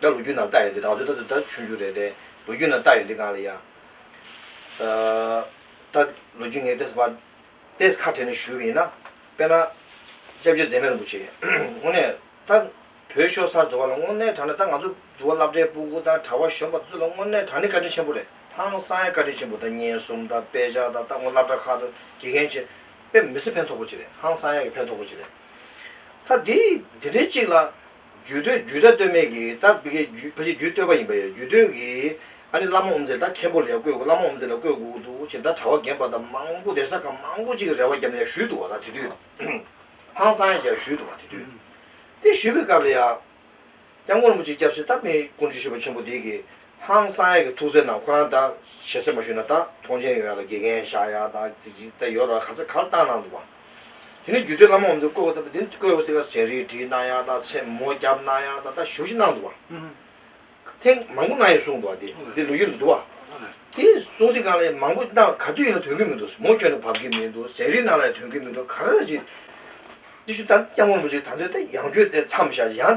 ད་ལོ་རྒྱུས་ནང་བཏགས་ཡོད་འདི་དང་ཚོད་ད་ཚོད་ད་ཆུང་ཆུང་རེད་དེ། ལོ་རྒྱུས་ནང་བཏགས་ཡོད་འདི་གང་ལ་ཡ། ད་ལོ་རྒྱུས་ངས་ཏེས་པར། ཏེས་ཁ་བྲལ་ནས་ཞུ་བ་ཡིན་ན། དཔེར་ན། སྐྱབས་རྗེ་མཛད་མེད་རིན་པོ་ཆེ། དངོས་གནས། ད། བོད་ཤོ་སར་འདུ་བ་ལ་དངོས་གནས་དྲང་ནས་ད་ང་ཚོ་འདུ་བ་བླ་བྲེ་སྤུ་གུ་དང་གྲྭ་བ་གཞོན་པ་ཚོ་ལ་དངོས་གནས་དྲང་ནས་བཀའ་དྲིན་ཆེན་པོ་རེད་ཧང་སང་ཡ་བཀའ་དྲིན་ཆེན་པོ་ད་ཉེན་གསུམ་ད་དཔེ་ཆ་ད་ད་ངོ་བླ་བྲ་ཁག་ཏུ་དགེ་རྒན་ཆེ། དཔེ་མི་སེར་ཕན་ཐོག་པོ་ཅིག་རེད་ཧང་སང་ཡ་གི་ཕན་ཐོག་པོ་ཅིག་རེད། ད་དེ་དེ་འདྲའི་ཅིག་ལ། རྒྱུད་སྟོད་རྒྱུད་གྲྭ་སྟོད་སྨད་ཀྱི་ད་བི་ཀའི་རྒྱུད་ཕལ་ཆེར་རྒྱུད་སྟོད་པ་ཡིན་པ་ཡང་རྒྱུད་སྟོད་ཀྱི་ཨ་ནི་བླ་མ་འོམ་ཟེར་ད་མཁན་པོ་ལ་ཡང་བསྐོས་བསྐོས་བླ་མ་འོམ་ཟེར་ལ་བསྐོས་བསྐོས་འདུག་ཅེས་ད་གྲྭ་བ་རྒན་པ་ད་མང་པོ་གདན་ས་ཁག་མང་པོ་ཅིག་གི་རེ་བ་བརྒྱབ་ནས་ཡང་བཞུད་འདུག་བ་ད་དེ་དུས་ཧང་སང་ཡང་བྱས་བཞུད་འདུག་བ་དེ་དུས་དེ་བཞུད་པའི་སྐབས་ལ་ཡང། སྐྱབས་མགོན་རིན་པོ་ཆེ་སྐྱབས་སེ་ད་མི་ཀུན་སྤྱོད་ཞུ་བ་ཆེན་པོ་འདི་གི་ཧང་སང་ཡག་གི་ཐུགས་བརྩེ་ནང་ཁོ་རང་དང་ཞལ་གསེབ་མ་ཞུས་ན་ད་ཐོངས་ཆེན་ཡོད་ཡག་ལ་དགེ་རྒན་ཤ་ཡག་དང་རྩེ་གཅིག་ད་ཡོད་ར་ག་ཚད་གར་བཏང་གནང་འདུག་བ། དེ་ནས་རྒྱུད་སྟོད་བླ་མ་འོམ་ཚེ་བཀོད་ཁོ་ད་དེ་ནས་བཀོད་ཁོ་ཚེ་ཁར་ཟས་རིགས་བྲིས་གནང་ཡག་དང་ཚེ་མོ་བརྒྱབ་གནང་ཡག་དང་ད་བཞུགས་ཤིག་གནང་འདུག་བ། ཐེངས་མང་པོ་གནང་ཡོད་གསུངས་འདུག་བ་དེ་དེ་ལོ་རྒྱུས་ལ་འདུག་བ། དེ་གསུངས་དེ་གང་ལ་ཡིན་མང་པོ་གནང་ག་དུས་ཡིན་ལ་དོན་གྱི་མི་འདུག་མོ་སྐྱོན་ན་བབ་ཀྱི་མི་འདུག་ཟས་རིགས་གནང་ལ་ཡང་དོན་གྱི་མི་འདུག་ག་རེ་རེ་བྱེད། དེ་བཞིན་ད་སྐྱབས་མགོན་པོ་ཆེ་ད་འདོད་ད་ཡང་བརྗོད་དེ་མཚམས་བཞག་ཡང་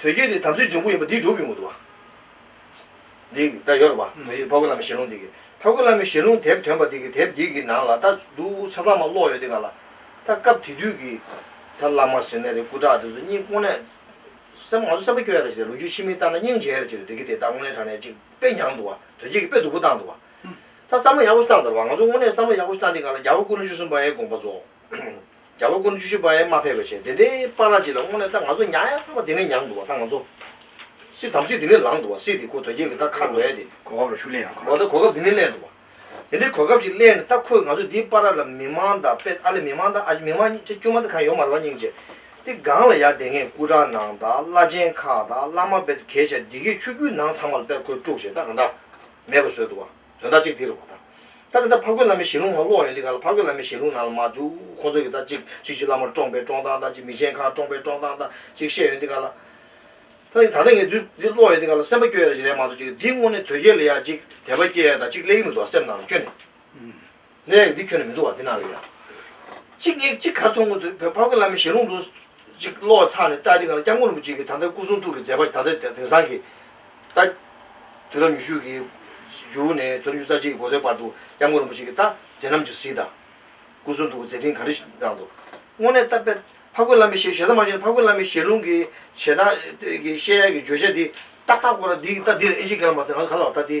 དོལ་རྒྱལ་ནི་དམ་སྲིའི་འབྱུང་པོ་ཡིན་པ་འདིས་སྒྲུབ་ཡོང་གི་འདུག་བ། འདི་གི་སྒྲ་ཡོད་ལ་བ། དོལ་རྒྱལ་ཕག་གོས་བླ་མའི་ཞལ་ལུང་འདི་གི། ཕག་གོས་བླ་མའི་ཞལ་ལུང་དེབ་དོན་པ་འདི་གི་དེབ་འདི་གི་ནང་ལ་ད་འདུག་ཆ་ཚང་མ་ཀློག་ཡོད་འདི་ག་ལ། ད་སྐབས་དེ་དུས་ཀྱི། ད་བླ་མ་ཟེར་ནས་རེད་སྐུ་དྲག་འདི་ཚོ་སྙིང་ཀོང་ནས། སེམས་ང་ཚོ་སེམས་པ་སྐྱོ་ཡ་རེད་ཟེར་ལུག་ཁྱུ་ཕྱི་མིག་བལྟ་ན་སྙིང་རྗེ་ཡ་རེད་ཅི་རེད་འདི་གི་དེ་ད་དངོས་གནས་དྲང་གནས་གཅིག་དཔེ་མྱངས་འདུག་བ་དོལ་རྒྱལ་གྱི་དཔེ་སྡུག་པོ་བཏང་འདུག་བ། ད་བསམ་བློ་ཡག་པོ་ཞིག་བཏང་འདོར་བ་ང་ཚོ་དངོས་གནས་བསམ་བློ་ཡག་པོ་ཞིག་བཏང་འདི་ག་ལ་རྒྱ་བོད་ཀུན་ལོ་བཅུ་གསུམ་པའི་དགོངས་པ་རྫོགས། རྒྱ་ལོ་སྐོར་བཅུ་བཞི་པའི་མ་ཕེབས་པའི་ཆེད་དེ་འདྲའི་པ་ར་ཅི་ལ་དངོས་ནས་ད་ང་ཚོ་མྱ་ཡ་ཚང་མ་དེ་ནས་མྱངས་འདུག་བ་ད་ང་ཚོ། སྲིད་དམ་སྲིད་དེ་ནས་ལངས་འདུག་བ་སྲིད་དེ་ཁོ་དོལ་རྒྱལ་གི་ད་ཁ་བས་དེ། གོ་སྐབས་ལ་ཤུགས་ལན་ཡང་གོ། འོ་ད་གོ་སྐབས་དེ་ནས་གླས་འདུག་བ། དེ་འདྲའི་གོ་སྐབས་ཅིག་གླས་ནས་ད་ཁོས་ང་ཚོ་འདིའི་པ་ར་ལ་མི་མང་དང་དཔེ་ཨ་ལས་མི་མང་དང་ཨ་ཅེ་མི་མང་གཉིས་ཅེ་བཅུ་མ་དེ་གང་ཡོད་མ་རེད་བ་སྙིང་རྗེ། དེ་སྒང་ལ་ཡ་དེ་སྔའི་སྐུ་དྲག་ནང་དང་བླ་ཆེན་ཁག་དང་བླ་མ་དཔེ་ད་གལ་ཆེ་འདི་གའི་ཆོས་བརྒྱུད་ནང་ཚང་མ་ལ་དཔེ་ཁོས་དཀྲུགས་བྱས་ད་གང་འདྲ། མེད་པ་བཟོས་འདུག་བ། དོན་དག་ཅིག་འདི་རུ་མ་དག། ད་དེ་ལྟར་ཕ་རྒོད་བླ་མའི་ཞལ་ལུང་ནང་ཀློག་ཡོད་འདི་ག་ལ་ཕ་རྒོད་བླ་མའི་ཞལ་ལུང་ནང་ལ་མ་བཅུག་ཁོང་ཚོ་གིས་ད་ཅིག་ཅིག་ཅིག་བླ་མར་བཀྲོངས་པའི་བཀྲོངས་སྟངས་དང་ཅིག་མི་ཆེན་ཁང་བཀྲོངས་པའི་བཀྲོངས་སྟངས་དང་ཅིག་བཤད་ཡོད་འདི་ག་ལ། ད་ནི་ད་ལྟ་ངས་རྫུན་འདི་ཀློག་ཡོད་འདི་ག་ལ་སེམས་པ་སྐྱོ་ཡ་རེ་ཅིག་རེད་མ་གཏོགས་ཅིག་འདི་དངོས་གནས་དོལ་རྒྱལ་ལ་ཡ་ཅིག་དད་པ་སྐྱེ་ཡ་དང་ཅིག་གླེགས་མི་འདུག་བ་སེམས་ནང་ལ་སྐྱོ་ནས། ལས་ལས་འདི་ཁྱོན་ནས་མི་འདུག་བ་འདི་ནང་ལས་ཡང། གཅིག་གཉིས་གཅིག་གར་མཐོང་གོ་འདུག་བོད་ཕག་སྐུ་བླ་མའི་ཞལ་ལུང་དུ། གཅིག་གློག་ལ་ཚངས་ནས་བལྟ་འདི་ག་ལ་སྐྱབས་མགོན་རིན་པོ་ཆེ་གིས་ད་ལྟ་སྐུ་གསུང་ཐུགས་ཀྱི་མཛད་པ་ད་ལྟ་དེང་སང་གི། ལྟ། དུས་རབས་ཉི་ཤུ་གི། བཞུགས་ནས་དུས་རབས་ཉི་ཤུ་རྩ་གཅིག་གི་འགོ་ཟླའི་བར་དུ་སྐྱབས་མགོན་རིན་པོ་ཆེ་གིས་ལྟ་མཛད་རྣམས་ཀྱི་གཟིགས་དང། སྐུ་གསུང་ཐུགས་ཀྱི་མཛད་འཕྲིན་ག་འདྲི་གནང་འདུག། དངོས་གནས་ལྟ། ཕག་སྐུ་བླ་མའི་ཞལ་ཞལ་ཐང་མ་ཤེས་ན་ཕག་སྐུ་བླ་མའི་ཞལ་ལུང་གི་བྱེད་སྟངས། བཤད་ཡག་གི་བརྗོད་བྱ་འདི། ཏག་ཏག་ཀོ་ར་འདི་ལྟ་འདིར་ཨེ་ཤེས་གལ་མ་ཟེར་ང་ཚོ་ག་ལ་བ་ལྟ་འདི།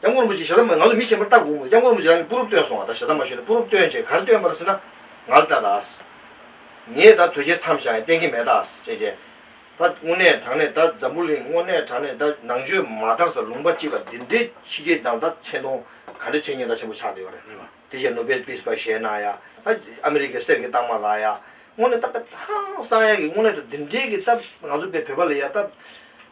སྐྱབས་མགོན་རིན་པོ་ཆེས་ཞེ་སྡང་མ་ང་ལ་མི་ཞེན་པར་བལྟ་དགོས་མོད་སྐྱབས་མགོན་རིན་པོ་ཆེས་རང་གི་སྤུ་རུབ་བཏོན་སོང་བ་དང་ཞེ་སྡང་མ་ཞུས་ན་སྤུ་རུབ་བཏོན་རྗེས་ག་རེ་བཏོན་པར་སྲིད་ན་ང་ལ་བལྟ་དྭགས། ངས་ད་དོལ་རྒྱལ་མཚམས་བཞག་ཡང་གཏན་འཁེལ་མེད་དྭགས་ཅེས་བརྗེད། ད་དངོས་གནས་དྲང་གནས་ད་འཛམ་བུ་གླིང་དངོས་གནས་དྲང་གནས་ད་ནང་ཆོས་མ་དར་ས་ལུང་པ་གཅིག་ལ་འདི་འདྲའི་ཕྱི་རྒྱལ་དང་ད་མཚན་མཐོང་ག་འདྲ་བྱས་ཉེན་ཁ་ཆེན་པོ་ཆགས་བསྡད་ཡོད་རེད། དེ་བཞིན་ནོ་སྦེལ་པིས་པ་བཞེས་གནང་ཡ་ད་ཨ་མི་རི་ཀའི་གསེར་གྱི་རྟགས་མ་རག་ཡ། དངོས་གནས་ད་པེ་ཐང་གསང་ཡ་གི་དངོས་གནས་ད་འདི་འདྲའི་གི་ད་ང་ཚོ་པེ་བོད་པ་ལ་ཡ་ད།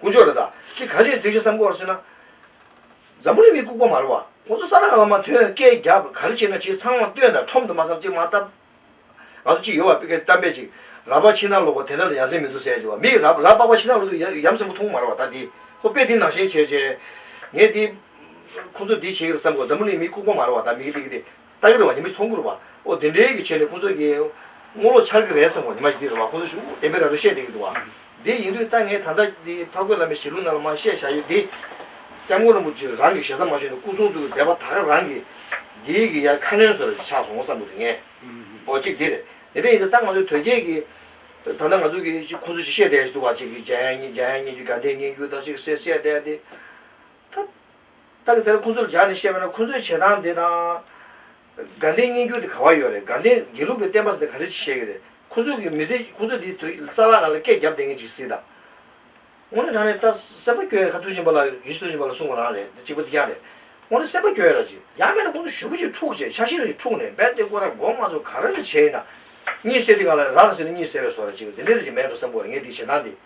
དཀོན་མཆོག་རེད་ད། འདི་ག་རེ་རྫིག་རེད་བསམ་གོ་ཟེར་ན། འཛམ་བུ་གླིང་མི་ལྐུག་པ་མ་རེད་བ། ཁོང་ཚོ་ས་ན་ང་མ་ཐོན་སྐད་རྒྱབ་ག་རེ་བྱེད་ན་བྱེད་ཚང་མ་སྟོན་དང་ཁྲོམ་དུ་མ་བསམ་ཅིག་མ་བལྟ། ང་ཚོ་གཅིག་ཡོད་བ་པིཀ་གཏམ་དཔེ་ཅིག་ར་པ་ཕྱི་ནང་ལོག་པ་དེ་འདྲ་ལ་ཡ་མཚན་མི་འདུག་ཟེར་ཡ་ཆེ་བ་མིག་ར་ར་པགས་པ་ཕྱི་ནང་ལོག་དུ་ཡ་མཚན་མོ་མཐོང་མ་རེད་བ་ད་འདི་ཁོ་དཔེ་འདི་ནང་བཞིན་བྱས་བྱས། ངས་འདི། ཁོང་ཚོ་འདི་བྱེད་ཀྱི་རེད་བསམ་གོ་འཛམ་བུ་གླིང་མི་ལྐུག་པ་མ་རེད་བ་ད་མིག་གི་སྟེགས་ཀྱི་སྟེ། རྟ་གི་ར་བ་ཉི་མ་ཚོང་འགུར་བ། ཨོ་དེ་འདྲའི་གི་ཆེད་ལས་ཁོང་ཚོ་གི། དངུལ་ལོ་འཆར་གི་རེད་བསམ་གོ་ཉི་མ་ཞིག་དེའི་ར་བ་ཁོང་ཚོ་ཞུ་བདེན་པའི་ར་སྤྲོད་བཤད་དེ་གི་འདུག་བ། དེ་ཡིན་དུས་ད་ངས་ད་ལྟ་འདི་ཕ་རྒོད་བླ་མའི་ཞལ་ལུང་རྣ་ལ་མ་བཤད་བཞག་ཡོད་དེ། སྐྱབས་མགོན་རིན་པོ་ཆེ་རང་གི་ཞལ་ཟ་མ་ཞུས་ནས་སྐུ་གསུང་ཐུགས་ཀྱི་མཛད་པ་དག་རང་གི། འདིའི་གི་ཡར་ཁ་སྣོན་ཟོལ་ཆགས་སོང་བསམ་གོ་དེ་ངས། ཨོ་གཅིག་དེ་རེད། དེ་འདྲ་ཡིན་ཚེ་ད་ང་ཚོའི་དོལ་རྒྱལ་གི། ད་ལྟ་ང་ཚོ་གི་ཅིག་ཁོང་ཚོ་ཞིག་བཤད་བསྡད་ཡོད་ཅིག་འདུག་བ་ཅིག་གི་འཇམ་དབྱངས་སྙན་རྒྱུད་དགའ་ལྡན་སྙན་རྒྱུད་དག་ཅིག་གསལ་བཤད་བསྡད་དེ། ད། ད་གི་དེར་ཁོང་ཚོར་སྦྱར་ནས་བཤད་པ་ན་ཁོང་ཚོའི་བྱེད་སྟངས་འདི་དང། དགའ་ལྡན་བསྙེན་རྒྱུད་དེ་ག་བ་ཡོད་རེད་དགའ་ལྡན་དགེ་ལུགས་པའི་བསྟན་པ་འདི་ག་འདྲ་ཅིག་བཤད་ཀྱི་རེད་ཁོང་ཚོ་གི་མི་ཚེ་ཁོང་ཚོ་དེ་དུས་ས་ལ་ང་ལ་སྐད་བརྒྱབ་བསྡད་མཁན་ཅིག་སྲིད་དམ། ངོ་ནས་དྲང་ནས་ད་སེམས་པ་སྐྱོ་ཡ་རེད་ཁ་ཐུག་བཞིན་པ་ལ་ཡིད་སུ་བཞིན་པ་ལ་གསུངས་པ་རང་རེད་འདི་གཅིག་པ་འདི་རྐྱང་རེད་ངོ་ནས་སེམས་པ་སྐྱོ་ཡ་ར་ཅིག་ཡག་མེད་ན་ཁོང་ཚོ་ཞུ་བུ་ཅིག་འཁྲུག་བྱས་ཤ་ཤེད་རེ་ཅིག་འཁྲུག་ནས་རྦད་དེ་ཁོ་ར་མགོ་མ་ཚོ་ག་ར་རེ་བྱས་ཡིན་ན། གཉིད་སད་དུས་ང་ལ་ར་ར་ཟེར་ནས་གཉིད་སད་བས་སོ་ར་ཅིག་འདི་འདྲ་རེ་ཅིག་མེད་འགྲོ་བསམ་གོ་ར་ངས་འདི་བྱེད་སྟངས་འདི།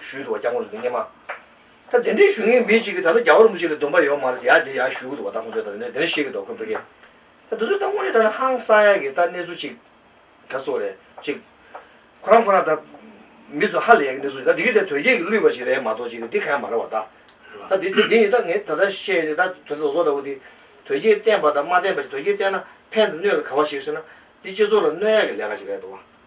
ཞུས་འདུག་བ་སྐྱག་མོ་རེད་འདུག་རྙེད་མ། ད་དེ་འདྲའི་ཞུ་ངེས་མི་གཅིག་གིས་ད་ལྟ་རྒྱ་བོད་རིན་པོ་ཆེ་ལ་སྡུམ་པ་ཡོད་མ་རེད་ཡ་དེ་ཡང་ཞུས་གི་འདུག་བ་ད་ཁོང་ཚོས་ད་དེ་འདྲ་དེ་འདྲ་བཤད་གི་འདུག་ཁོ་བོད་སྐད། ད་དེ་ཚོས་ད་དངོས་གནས་དྲ་ན་ཧང་སང་ཡག་གི་ད་གནས་ཚུལ་གཅིག་ག་ཚོད་རེད་གཅིག། ཁོ་རང་ཁོ་རང་ད་མི་ཚོ་ཧ་ལས་ཡག་གི་གནས་ཚུལ་ཞིག་ད་དེ་གཡུ་དེ་དོལ་རྒྱལ་གི་བསླུས་པ་ཞིག་རེད་མ་གཏོགས་གཅིག་དེ་ག་ཡང་མ་རེད་བ་ད། ད་དེ་ཚོས་དེ་ནི་ད་ངས་ད་ལྟ་བཤད་དེ་ད་དོལ་རྒྱལ་ལོག་འདྲ་བོ་དེ། དོལ་རྒྱལ་བསྟན་པ་དང་མ་བསྟན་པ་ཞིག་དོལ་རྒྱལ་བསྟན་ན་ཕན་དང་གནོད་ལ་ག་བ་ཞིག་ཟེར་ན། འདི་སྤྱི་ཚོགས་ལ་གནོད་ཡག་གི་ལས་ཀ་ཞིག་རེད་འདུག་བ།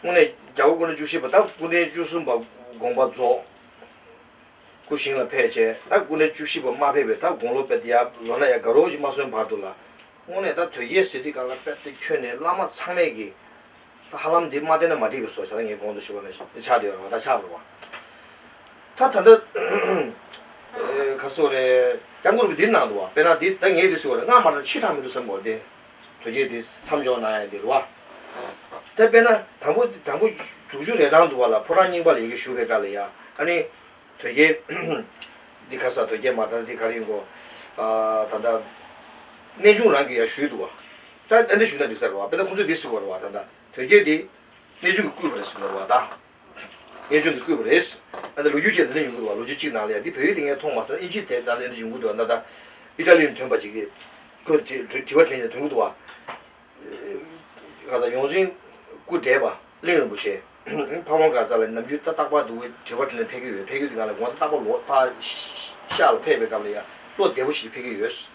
སྔོན་ནས་རྒྱལ་པོ་སྐུ་ན་བཅུ་བཞི་པ་དང་སྐུ་ལྡན་བཅུ་གསུམ་པ་དགོངས་པ་རྫོགས། སྐུ་བཞེངས་ལ་ཕེབས་བྱས་ད་སྐུ་ན་བཅུ་བཞི་པ་མ་ཕེབས་པའི་ད་དགུང་ལོ་པད་དེའབ་ལོ་ན་ཡ་དགའ་རོགས་ཀྱིས་མ་སོན་བར་དུ་ལ། སྔོན་ནས་ད་དོལ་རྒྱལ་ཟེར་དུས་ག་ལ་པད་ཚེ་ཁྱོད་ནི་བླ་མ་ཚང་མས་ཀྱི། ད་ཧ་ལམ་འདི་མ་བསྟན་ན་མ་འགྲིག་པས་སོ་བྱ་ད་ངའི་དགོངས་དོན་ཞུ་བ་ན་ཆགས་བསྡད་རོགས་ད་ཆགས་རོགས། ད་ད་ད། ག་ཚོད་རེད་རྒྱ་མགོ་རུ་འདི་ནང་དུ་བ་པད་ན་འདི་ད་ངའི་རི་སུ་བ་རེད་སྔར་མ་དྲངས་ཕྱིས་དྲངས་མི་འདུག་བསམ་དགོངས་བདེན། དུ་བསྐྱོད་དེ་མཚམས་འཇོག་གནང་ཡང་འདི་ལོ། དེ་དཔེར་ན་དང་པོ་དང་པོ་དྲུག་ཅུ་རེ་གྲངས་འདུག་བ་ལ་ཕོ་བྲང་རྙིང་པ་ལ་ཡི་གེ་བཞུགས་པའི་སྐབས་ལ་ཡ་ཨ་ནི། དོལ་རྒྱལ། འདི་ག་ས་དོལ་རྒྱལ་མ་ད་ལྟ་འདི་གར་ཡིན་གོ། ད་ལྟ། གནས་ཆུང་རང་གི་ཡ་བཞུགས་འདུག་བ། ད་ཨ་འདི་བཞུགས་ན་འགྲིག་ས་རེད་བ་དཔེར་ན་ཁོང་ཚོས་འདི་གཟིགས་བ་རེད་བ་ད་ལྟ་དོལ་རྒྱལ་འདི། གནས་ཆུང་གི་སྐུད་པ་རེད་གཟིགས་བ་རེད་བ་ད། ངས་ཆུང་དུ་བསྐུལ་བ་རེད། ཨ་ནི་ལོ་རྒྱུས་ཅན་དང་ལེན་ཡོང་གི་འདུག་བ་ལོ་རྒྱུས་གཅིག་ནང་ལ་ཡང་འདི་བོད་ཡིག་ཏེ་ངས་མཐོང་མ་སོང་ཨིན་ཇིའི་དེབ་དང་ལེན་དུ་འབྱུང་གི་འདུག་ཨ་ན་ད་ཨི་ཏྲ་ལི་ནས་དོན་པ་ཅིག་གིས་ཁོས་དྲི་བ་དྲིས་ནས་དོན་གི་འདུག་བ། ང་དང་ཡོངས་འཛིན་སྐུ་བགྲེས་པ་གླིང་རིན་པོ་ཆེ། ཕ་བོང་དཀར་ཙག་ལ་ནམ་རྒྱུན་ཏག་ཏག་པར་འདུག་བའི་དྲི་བ་དྲིས་ནས་ཕེབས་ཀྱི་ཡོད་ཕེབས་ཀྱི་འདུག་ང་ལ་དགོངས་དག་ཏག་ཏག་བཞག་ལ་ཕེབས་པའི་སྐབས་ལ་ཡང་བློ་བདེ་པོ་ཞིག་གིས་ཕེབས་ཀྱི་ཡོད།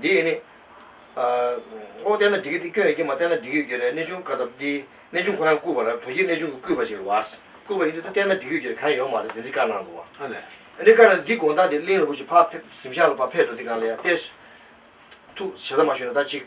འདི་ཡིས་ནི། ཨོ། བསྟན་ན་འགྲིག་གི་འདི་སྐྱོན་ཡོད་ཀྱི་མ་བསྟན་ན་འགྲིག་གི་འགྱུར་རེ་གནས་ཆུང་བཀའ་ཐབས་འདི་གནས་ཆུང་ཁོ་རང་བརྐུས་པ་ར་བོད་ཀྱི་གནས་ཆུང་གི་བརྐུས་པ་ཅིག་རེད་བཱས་བརྐུས་པ་ཡིན་དུས་ད་བསྟན་ན་འགྲིག་གི་འགྱུར་རེ་གང་ཡང་ཡོག་མ་རེད་ཟེར་འདི་བཀའ་གནང་འདུག་བ། ཨ་ལས། ཨ་ནི་བཀའ་ན་འདི་དགོངས་དག་འདི་གླིང་རིན་པོ་ཆེ་ཕ་ཕེབས་གཟིམ་ཤག་ལ་ཕ་ཕེབས་འགྲོ་འདི་གང་ལ་ཡ་གཏེར། ཐུགས། བྱེ་ད་མ་ཞུས་ན་ད་ཅིག།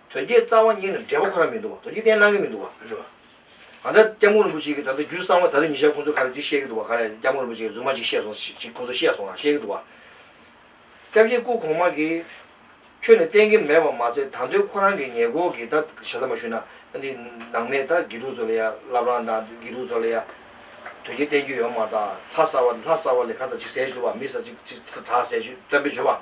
དོལ་རྒྱལ་རྩ་བ་ཉིད་ལ་འབྲས་བུ་ཁོ་རང་མི་འདུག་བ་དོལ་རྒྱལ་བསྟེན་གནང་གི་མི་འདུག་བ་རེད་བ། ང་ཚ་སྐྱབས་མགོན་རིན་པོ་ཆེ་གི་ད་ལྟ་རྒྱུད་གསང་བ་ད་ལྟ་ཉི་ཤར་ཁོང་ཚོ་ག་རེ་འདི་བཤད་གི་འདུག་བ་ག་རེ་སྐྱབས་མགོན་རིན་པོ་ཆེ་གི་རྫུན་མ་ཅིག་བཤད་སོང་ཞིག་ཁོང་ཚོ་བཤད་སོང་ང་བཤད་གི་འདུག་བ། སྐྱབས་རྗེ་སྐུ་གོང་མ་གི། ཆོས་ནི་བསྟེན་གི་མེད་པ་མ་ཚད་ད་འདོད་ཁོ་རང་གི་ཉེ་སྐོར་གི་ད་ཞེ་ས་མ་ཞུ་ན་འདི་ནང་མེད་ད་དགེ་ཕྲུག་ཚོ་ལ་ཡ་ལབ་རང་ད་དགེ་ཕྲུག་ཚོ་ལ་ཡ། དོལ་རྒྱལ་བསྟེན་རྒྱུ་ཡོད་མ་ད་ལྷ་ས་བ་ལྷ་ས་བ་ལས་ཁ་ད་ཅིག་ཟེར་ཞུ་བ་མི་ས་ཅིག་ཅིག་ད་ཟེར་ཞུ་སྟོན་པས་བྱོས་བ།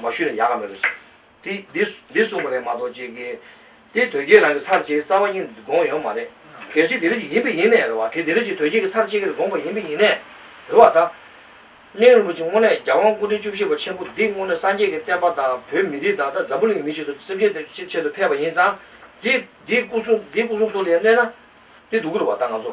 མ་ཞུས་ན་ཡག་ག་མེད་རེད། དེ་འདི་འདི་གསུངས་པ་རེད་མ་གཏོགས་ཅེ་དགེ། དེ་དོལ་རྒྱལ་རང་གི་ཚར་བཅད་རྩ་བ་གཉིས་དགོངས་ཡོད་མ་རེད། གལ་སྲིད་དེ་རིགས་ཀྱི་ཡིན་པའི་ཡིན་ནས་རེད་བ། དེ་དེ་རིགས་ཀྱི་དོལ་རྒྱལ་གྱི་ཚར་བཅད་ཀྱི་རེད་དགོངས་པ་ཡིན་པའི་ཡིན་ནས་རེད་བ། ད་གླིང་རིན་པོ་ཆེ་དངོས་གནས་རྒྱ་དབང་སྐུ་ཕྲེང་བཅུ་བཞི་པ་ཆེན་པོ་འདི་དངོས་གནས་སངས་རྒྱས་ཀྱི་བསྟན་པ་དང་བོད་མི་རིགས་དང་ད་འཛམ་བུ་གླིང་གི་མི་ཆེད་དུ་སེམས་ཅན་དེ་ཆེད་དུ་ཕེབས་པ་ཡིན་ཙང། དེ་དེའི་སྐུ་གསུང་དེའི་སྐུ་གསུང་ཐུགས་ལ་ཡང་གནས་ན། དེ་སྡུག་གི་རེད་བ་ད་ང་ཚོ་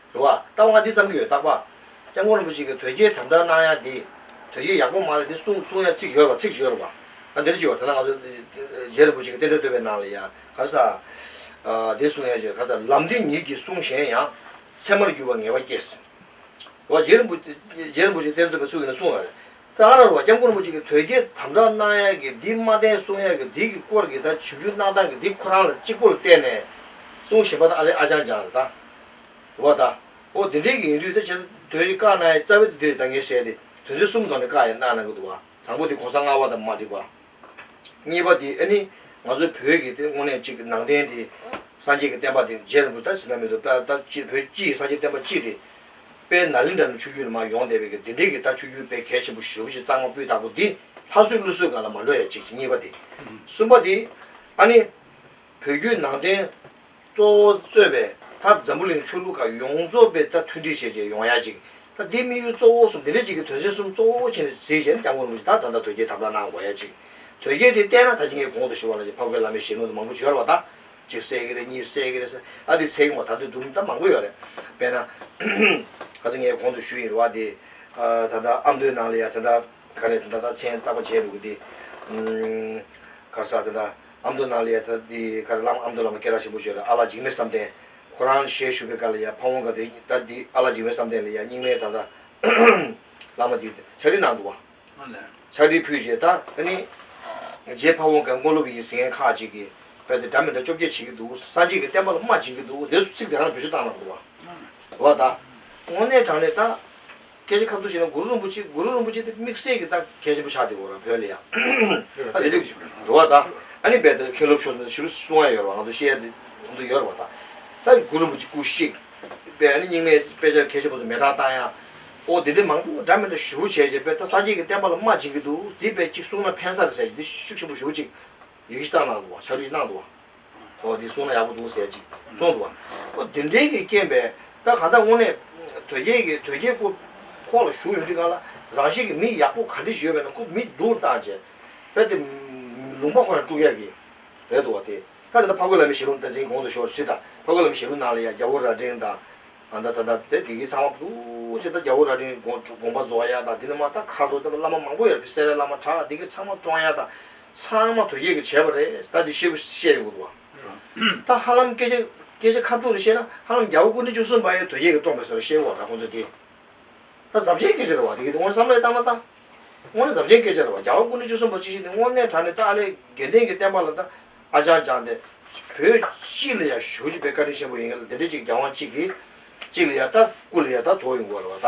རེད་བ། ལྟ་བ་འདི་ཙམ་གྱི་ཡོད་རྟགས་པ། སྐྱབས་མགོན་རིན་པོ་ཆེ་གི་དོལ་རྒྱལ་དམ་བསྒྲགས་གནང་ཡ་འདི། དོལ་རྒྱལ་ཡག་པོ་མ་རེད་འདི་གསུང་གསུང་ཡ་ཚིག་ཞོར་བ་ཚིག་ཞོར་བ། ད་འདིར་བྱོས་བ་ད་ནང་ཚོ། རྗེ་རིན་པོ་ཆེ་གི་རྟེན་འབྲེལ་བསྟོད་པའི་ནང་ལ་ཡ་ག་རེ་ས། འདི་གསུང་ཡ་བྱོས་ག་ཚ་ལམ་འདི་ཉིད་ཀྱི་གསུང་གཞན་ཡང། ཚད་མར་འགྱུར་བ་ངེས་པ་སྐྱེས། བ། རྗེ་རིན་པོ་ཆེ་རྟེན་འབྲེལ་བསྟོད་པའི་ཚུགས་ཀྱི་ནང་གསུང་ཡ་རེད། ཀ་ར་རུ་བ་སྐྱབས་མགོན་རིན་པོ་ཆེ་གིས་དོལ་རྒྱལ་དམ་དྲག་གནང་ཡ་གི་འདི་མ་བསྟན་གསུང་ཡ་གི་འདི་གི་སྐོར་གི་ད་བྱིབས་ཆུ་གནང་སྟངས་གི་འདི་ཁོ་རང་ལ་གཅིག་པོ་ལ་བསྟན་ནས་གསུང་བཞིན་པ་ད་ཨ་ལས་ཨ་ཅང་ཅང་རེད་ད། རུ་བ་ད། ཨོ་དེ་འདྲའི་གི་ཡིན་དུས་ད་བྱས་ད་དོལ་རྒྱལ་བཀའ་གནང་ཡ་རྩ་བའི་ད་འདི་རེད་ད་ངས་བཤད་དེ་དོན་ཚན་གསུམ་དོགས་ནས་བཀའ་ཡ་གནང་གནང་གི་འདུག་བ། དང་པོ་དེ་གོང་ས་ལྔ་བ་ད་མ་འགྲིག་བ། གཉིས་པ་དེ་ནི་ང་ཚོ་བོད་ཀྱི་དངོས་གནས་གཅིག་ནང་བསྟན་དེ་སངས་རྒྱས་ཀྱི་བསྟན་པ་དེ་རྗེ་རིན་པོ་ད་ཇི་ན་མེད་དུ་དཔལ་ལྟར་གཅིག་བོད་སྤྱི་ཡི་སངས་རྒྱས་བསྟན་པ་གཅིག་དེ། དཔལ་ན་ལིང་འདྲ་ནི་ཆུ་རྒྱུན་ནི་མ་ཡོང་བསྡད་པའི་གི་དེ་འདྲའི་གི་ད་ཆུ་རྒྱུན་དཔལ་གལ་ཆེན་པོ་ཞོལ་གྱི་གཙང་མ་སྤུས་དག་པོ་འདི་ལྷ་གསོལ་ཀླུ་གསོལ་གང་ལ་མ་འགྲོ་ཡ་གཅིག་གཅིག་གཉིས་པ་དེ། གསུམ་པ་དེ། ཨ་ནི། བོད་བརྒྱུད་ནང་བསྟན། གཙོ་བོ་གཙོས་པའི་མཐར་འཛམ་བུ་གླིང་ཆོས་ལུགས་ཁག་ཡོངས་རྫོགས་པའི་མཐར་མཐུན་སྒྲིག་ཆས་བཅས་ཡོང་ཡ་ཅིག་དང་དེའི་དམིགས་ཡུལ་གཙོ་བོ་གསུམ་དེ་འདྲ་ཅིག་གི་དོན་ཚན་གསུམ་གཙོ་བོ་ཆེ་ནས་གཟིགས་ཞེན་བསྐྱང་སྒོར་མོ་ཅིག་དང་ད་ལྟ་དོལ་རྒྱལ་དམ་ལ་གནང་དགོས་ཡ་ཅིག་དོལ་རྒྱལ་དེ་བསྟན་ན་ད་ཁྱི་ངའི་གོང་དུ་ཞུ་བ་ལ་ཅིག་ཕག་རྒོད་བླ་མའི་ཞལ་ངོ་དུ་མང་པོ་བྱོལ་བ་དང་གཅིག་བསད་ཀྱི་རེད་གཉིས་བསད་ཀྱི་རེད་ཨ་དེ་ཚེག་མོ་ད་དུ་སྒྲུང་གཏམ་མང་པོ་ཡོད་རེད་དཔེར་ན། ག་ཚོད་ངའི་གོང་དུ་ཞུ་ཡིན་རུ་བ་དེ། ད་ལྟ་ཨ་མདོའི་ནང་ལ་ཡ་དེ་འདྲ་ག་རེ་དེ་འདྲ་ད་མཚན་བཏགས་པ་བྱས་འདུག་གི་དེ། ག་ས་དེ་འདྲ་ཨ་མདོ་ནཱ་ལེ་ཡ་ཐ་དི་ཀར་བླ་མ་ཨ་མདོ་བླ་མ་ཀེ་ར་ཆེན་པོ་ཆོས་ལ་ཨ་ལགས་འཇིགས་མེད་བསམ་གཏན་ཁོ་རང་ཞལ་བཞུགས་པའི་སྐར་ལ་ཡ་ཕ་བོང་ཀ་དེ་ད་དི་ཨ་ལགས་འཇིགས་མེད་བསམ་གཏན་ལ་ཡ་རྙིང་མའི་ད་ད་བླ་མ་དེ་ཕྱག་བྲིས་གནང་འདུག་བ། ཕྱག་བྲིས་ཕུལ་རྗེས་ད་ད་ནི་རྗེ་ཕ་བོང་ཀའི་དངོས་སློབ་ཡིན་ཟེར་མཁན་ཁག་ཅིག་གིས་བོད་དེ་འདྲ་མི་འདྲ་བཅོ་བརྒྱད་བྱེད་ཀྱི་འདུག་སངས་རྒྱས་ཀྱི་བསྟན་པ་ལ་རྨ་འབྱིན་གྱི་འདུག་འདས་སུ་ཚིག་དེ་རང་བེད་སྤྱོད་བཏང་གནང་འདུག་བ། བ་ད། དངོས་གནས་དྲང་ལེ་ད། སྐད་ཆ་ཁ་མཐུན་ཞིག་ན་གུ་རུ་རིན་པོ་ཆེ་གུ་རུ་རིན་པོ་ཆེ་དེ་དམིགས་བསལ་གྱི་ལྟར་གལ་ཆེན་པོ་ཆགས་འདུག་གོ་བོད་ལ་ཡང། ཨ་རིའི་རྒྱུ་འགྲོ་བ་དང་ཨ་ནི་རྦད་དེ་མཁན་སློབ་ཆོས་ཞུ་རུ་སུ་འང་ཡོད་རེད་བ་ང་ཚོ་ཤེས་ཡ་དེ་འདུག་ཡོད་རེད་བ་དང། ད་གུ་རུ་རིན་པོ་ཆེ་སྐུ་གཤེགས་པའི་ཨ་ནི་རྙིང་མའི་དཔེ་ཆ་གལ་ཆེན་པོ་ཚོ་མེ་བསྒྲགས་བཏང་ཡ། ཨོ་དེ་འདི་མང་པོ་འདྲ་མི་འདྲ་ཞུ་བོ་བྱས་བྱས་རྦད་ད་ས་སྐྱེས་ཀྱི་བསྟན་པ་ལ་རྨ་བྱིན་གྱི་འདུག་དེ་རྦད་ཅིག་གསུང་ན་ཕན་ས་རེད་ཟེར་གྱི་འདི་ཤུགས་ཆེན་པོ་ཞུ་བོ་ཅིག་ཡི་གེ་ཤི་སྟངས་གནང་འདུག་བ་ཕྱག་བྲིས་ཤི་གནང་འདུག་བ། ཨོ་དེ་གསུངས་ན་ཡག་པོ་འདུག་ཟེར་ཅིག་གསུངས་འདུག་བ། ཨོ་དེ་འདྲའི་གི་རྐྱེན་པས་ད་གང་ལྟར་དངོས་གནས། དོལ་རྒྱལ་གི་དོལ་རྒྱལ་སྐུ། ཁོག་ལ་བཞུགས་ཡོང་དུས་གང་ལ། རང་ཤེད་ཀྱི་མི་ཡག་པོ་ག་འདྲི་ཞུས་པས་ན་ཁུ་མི་སྡུག་ལ་བཏང་བྱས། དཔེར་དེ། ལུང་པ་ཁོ་ན་དཀྲུགས་ཡག་གི། རེད་འདུག་བ་དེ། ད་དེ་ལ་ཕ་གོས་ལ་མི་ཞེ་ལུང་ད་འཛིན་གོང་དུ་ཤོར་ཕྱིར་ད་ཕ་གོས་ལ་མི་ཞེ་ལུང་གནང་ལ་ཡ་རྒྱ་བོ་རྭ་སྒྲེང་དང། ཨ་ད་ད་ད་དེ་དགེ་གི་ཚང་མ་བསྡུ། ཕྱིར་ད་རྒྱ་བོ་རྭ་སྒྲེང་གི་དགོངས་པ་རྫོགས་ཡག་དང་དེ་ནས་མ་ད་ཁ་རྡོ་ལྟ་བུ་བླ་མ་མང་པོ་ཡོད་རེད་བསད་རེད་བླ་མ་གྲགས་དེ་གི་ཚང་མ་བཀྲོངས་ཡག་དང། ཚང་མ་དོལ་རྒྱལ་གྱིས་བྱས་པ་རེད་ད་དེ་བཤད་དགོས་བཤད་ཡོང་གི་འདུག་བ། ད་ཧ་ལམ་སྐད་ཆ་སྐད་ཆ་ཁ་ཐུག་རེ་བཤད་ན་ཧ་ལམ་རྒྱ་བོད་སྐུ་ཕྲེང་བཅུ་གསུམ་པ་ཡང་དོལ་རྒྱལ་གྱིས་བཀྲོངས་པའི་ཟེར་བ་བཤད་གོ་ར་ཁོང་ཚོས་དེ། ད་ཟབ་ཆེན་སྐད་ཆ་རེད་བ་དེ་གི་དེ་དངོས་བསམ་ལེ་བཏང་ན་ད། དངོས་ཟབ་ཆེན་སྐད་ཆ་རེད་བ་རྒྱ་བོད་སྐུ་ཕྲེང་བཅུ་གསུམ་པ་ཅིག་ཤི་དེ་དངོས་གནས་དྲ་ནས་ད་ཨ་ལེ་དགེ་ལྡན་གྱི་བསྟན་པ་ལ་ད་ཨ་ཅག་ཅག་འདི་བོད་སྤྱི་ལ་ཡང་ཞུགས་ཀྱི་པའི་བཀའ་དྲིན་ཆེན་པོ་ཡིན་གི་ལ་འདི་འདྲའི་ཅིག་རྒྱ་དབང་ཅིག་གིས་ཅིག་ལ་ཡང་ད་སྐུ་ལ་ཡང་ད་དོགས་ཡོང་གོ་ར་བ་ད།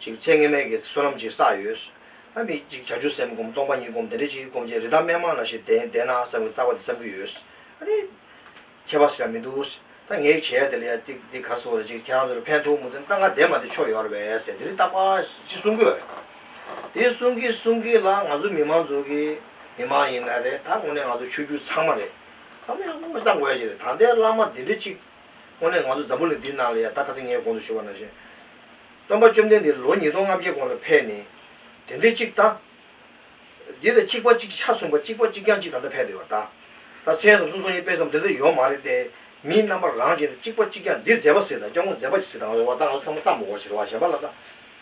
ཅིག། ཚེ་ངན་སྨྲས་ཀྱིས་བསོད་ནམས་ཅིག་བསགས་ཡོད། ཨ་མི་ཅིག་བྱ་ཆུ་སེམས་བསྒོམ་སྟོང་པ་ཉིད་བསྒོམ་དེ་འདྲའི་ཅིག་བསྒོམ་བྱས་རི་དྭགས་སྨན་མང་ལ་ཞིག་བདེན་བདེན་ན་བསམ་གྱི་བཙག་པ་འདི་བསམ་གྱི་ཡོད། ཨ་རེ། ཁྱད་པར་ཟེར་ཡ་མི་འདུག། ད་ངས་ཡིག་བྱས་ཡ་དེ་ལ་ཡ་ཅིག་འདི་གར་སོང་རེད་ཅིག་ཁྱེད་རང་ཚོ་ལ་ཕན་ཐོགས་མུ་མཐུན་སྟངས་ཀ་བདེན་མ་དེ་ཆོག་ཡོད་རེད་བས་ཟེར་འདི་རི་དྭགས་པ་ཅིག་གསུང་གི་ཡོད་རེད། དེ་གསུང་གི་གསུང་གི་ལ་ང་ཚོ་མི་མང་ཚོ་གི་མི་མང་ཡིན་ན་རེད་ད་དངོས་གནས་ང་ཚོ་ཆོས་བརྒྱུད་ཚང་མ་རེད་བསམ་ཡ་དངོས་བསམ་དགོས་ཡ་ཅིག་རེད་ད་ལྟའི་བླ་མ་འདི་འདྲའི་ཅིག། དངོས་གནས་ང་ཚོ་འཛམ་བུ་གླིང་འདིའི་ནང་ལ་ཡང་ད་ག་ཚོད་ངའི་གོང་དུ་བཞུགས་པ་ནང་བཞིན། སྟོན་པ་བཅོམ་ལྡན་འདས་ལོ་ཉིས་སྟོང་ལྔ་བརྒྱའི་གོང་ལ་ཕེབས་ནས། དེ་འདྲའི་གཅིག་ད། འདི་ད་གཅིག་པ་གཅིག་ཆ་མཚུངས་པ་གཅིག་པ་གཅིག་རྐྱང་གཅིག་ད་ལྟ་ཕེབས་བསྡད་པ་ད། ད་མཚན་སམ་གསུང་སོང་ཡིན་དཔེ་སམ་འདི་འདྲ་ཡོང་མ་རེད་དེ། མིའི་རྣམ་པ་རང་བཞིན་དུ་གཅིག་པ་གཅིག་རྐྱང་འདི་མཛེས་པ་ཟེར་དང་སྐྱོ་མོ་མཛེས་པ་ཞིག་ཟེར་དང་འོ་ད་ང་ཚོ་ཚང་མ་སྟག་མོ་འོ་བྱེད་རེ་བ་གཞན་པ་ལ་ད།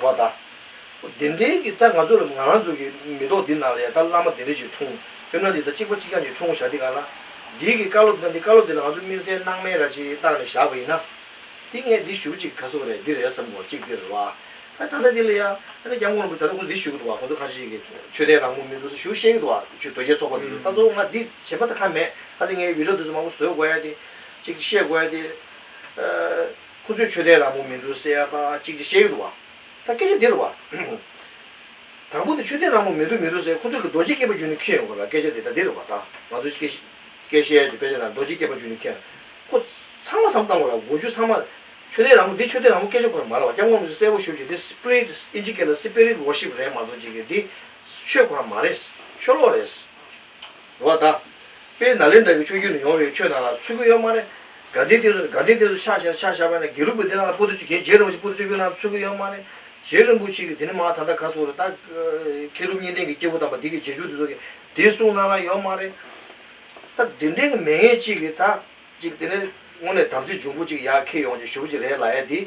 བ་དང། བདེན་བྲལ་གྱི་རྟགས་ང་ཚོ་ལ་ང་རང་ཚོ་གི་མེ་ཏོག་འདི་ནང་ལ་ཡང་ད་བླ་མ་དེ་འདྲ་ཞིག་འཁྲུངས་ཁྱོད་རྣམས་འདི་ལྟར་གཅིག་པ་གཅིག་རྐྱང་གཅིག་འཁྲུངས་བཞག་འདི་ག་ལ། འདིའི་གི་བཀའ་སློབ་ད་འདི་བཀའ་སློབ་འདི་ལ་ང་ཚོ་དམིགས་བསལ་སྣང་མེད་ར་ཅིག་བཏགས་ནས་བཞག་པ་ཡིན་ན། འདི་ངས་འདི་ཞུ་གཅིག་ག་ཟེ་བ་རེད་འདི་རེད་བསམ་གོ་གཅིག་འདི་རེད་བ། ད་ད་ལྟ་འདི་ལ་ཡང་ཨ་ནེ་རྒྱ་མགོ་ནོར་བུ་ད་ལྟ་ཁོང་ཚོ་འདི་ཞུ་གི་འདུག་བ་ཁོང་ཚོ་ཁ་ཅིག་གི་ཆོས་དད་རང་མོས་མིན་འདུག་ཟེ་ཞུ་ཤེས་གི་འདུག་བ་ཆོས་དོལ་རྒྱལ་ཚོགས་པ་མིན་འདུག་ད་གཙོ་བོ་ང་འདི་གཞན་པ་ད་ཁ་མེད་ད་ལྟ་ངས་ཡུལ་གྲབས་འདི་ཚོ་མང་པོ་བཟོས་དགོས་ཡ་དེ། གཅིག་བཤད་དགོས་ཡ་དེ། ཁོ་ཚོས་ཆོས་དད་རང་མོ་མི་འདུག་སེ་ཨ་ཁ་ཨ་ཅིག་ཅིག་བཤད་ཡོད་འདུག་བ། ད་སྐད་ཆ་འདིར་བ། དང་པོ་དེ་ཆོས་དད་རང་མོ་མི་འདུག་མི་འདུག་ཟེར་ཁོ་ཚོས་ཀྱི་རྡོ་རྗེ་སྐྱེས་པ་རྒྱུད་ནས་ཁྱེར་ཡོང་དགོས་ལ་སྐད་ཆ་དེ་ད་འདིར་བ། ད་ང་ཚོ་སྐད་སྐད་བཤད་ཡ་ཆེད་དཔེ་ཆ་ནང་རྡོ་རྗེ་སྐྱེས་པ་རྒྱུད་ནས་ཁྱེར། ཁོ། ཚང་མ་བསམ་བཏང་དགོས་ལ་དགུ་བཅུ་ཚང་མ། ཆོས་དད་རང་མོ་འདི་ཆོས་དད་རང་མོ་སྐད་ཆ་ཁོ་རང་མ་ལ་བ་སྐྱབས་མགོན་མི་ཚོས་གསལ་བོ་ཞུ་རྒྱུ་འདི Spirit ཨིན་ཇི་སྐད་ལ Spirit Worship རེད་མ་གཏོགས་ཅིག་གི་འདི། ཆོས་ཁོ་རང་མ་རེད། ཆོས་ལོག་རེད། བ་དང། དཔེ་ན་ལེན་འདྲ་བའི་ཆོས་བརྒྱུད་ནས་ཡོང་བའི་ཆོས་རྣམས་ལ་ཚུལ་དགོས་ཡོད་མ་རེད། དགའ་ལྡན་བསྟན་སྲུང་ནས་དགའ་ལྡན་བསྟན་སྲུང་ཕྱག་བཞེས་ན་ཕྱག་བཞག་པ་ཡིན་ན་དགེ་ལུགས་པའི་སྡེ་རྣམས་ལ་པོ་ཏོ་ཆོས་རྒྱལ་རྗེ་རིན་པོ་ཆེ་པོ་ཏོ་ཆོས་བརྒྱུད་ནང་ཚུལ་དགོས་ཡོད་མ་རེད། གཞན་རིན་པོ་ཆེ་གི་དེ་ནི་མ་ད་ལྟ་ག་ཚོགས་རེད་ད། མཁས་གྲུབ་གཉིས་ལྡན་གི་སྐྱེས་བུ་དམ་པ་འདི་གི་རྗེས་འཇུག་འདི་ཚོ་གི་དེ་གསུང་གནང་ན་ཡོད་མ་རེད། ད་དེ་འདྲའི་གི་མེད་ངེས་གཅིག་གི་ད། གཅིག་དེ་ནས་དངོས་གནས་དམ་ཚིག་འབྱུང་པོ་གཅིག་ཡར་ཁེ་ཡོང་ཅིག་ཞུ་བ་གཅིག་རེད་ལ་ཡ་འདི།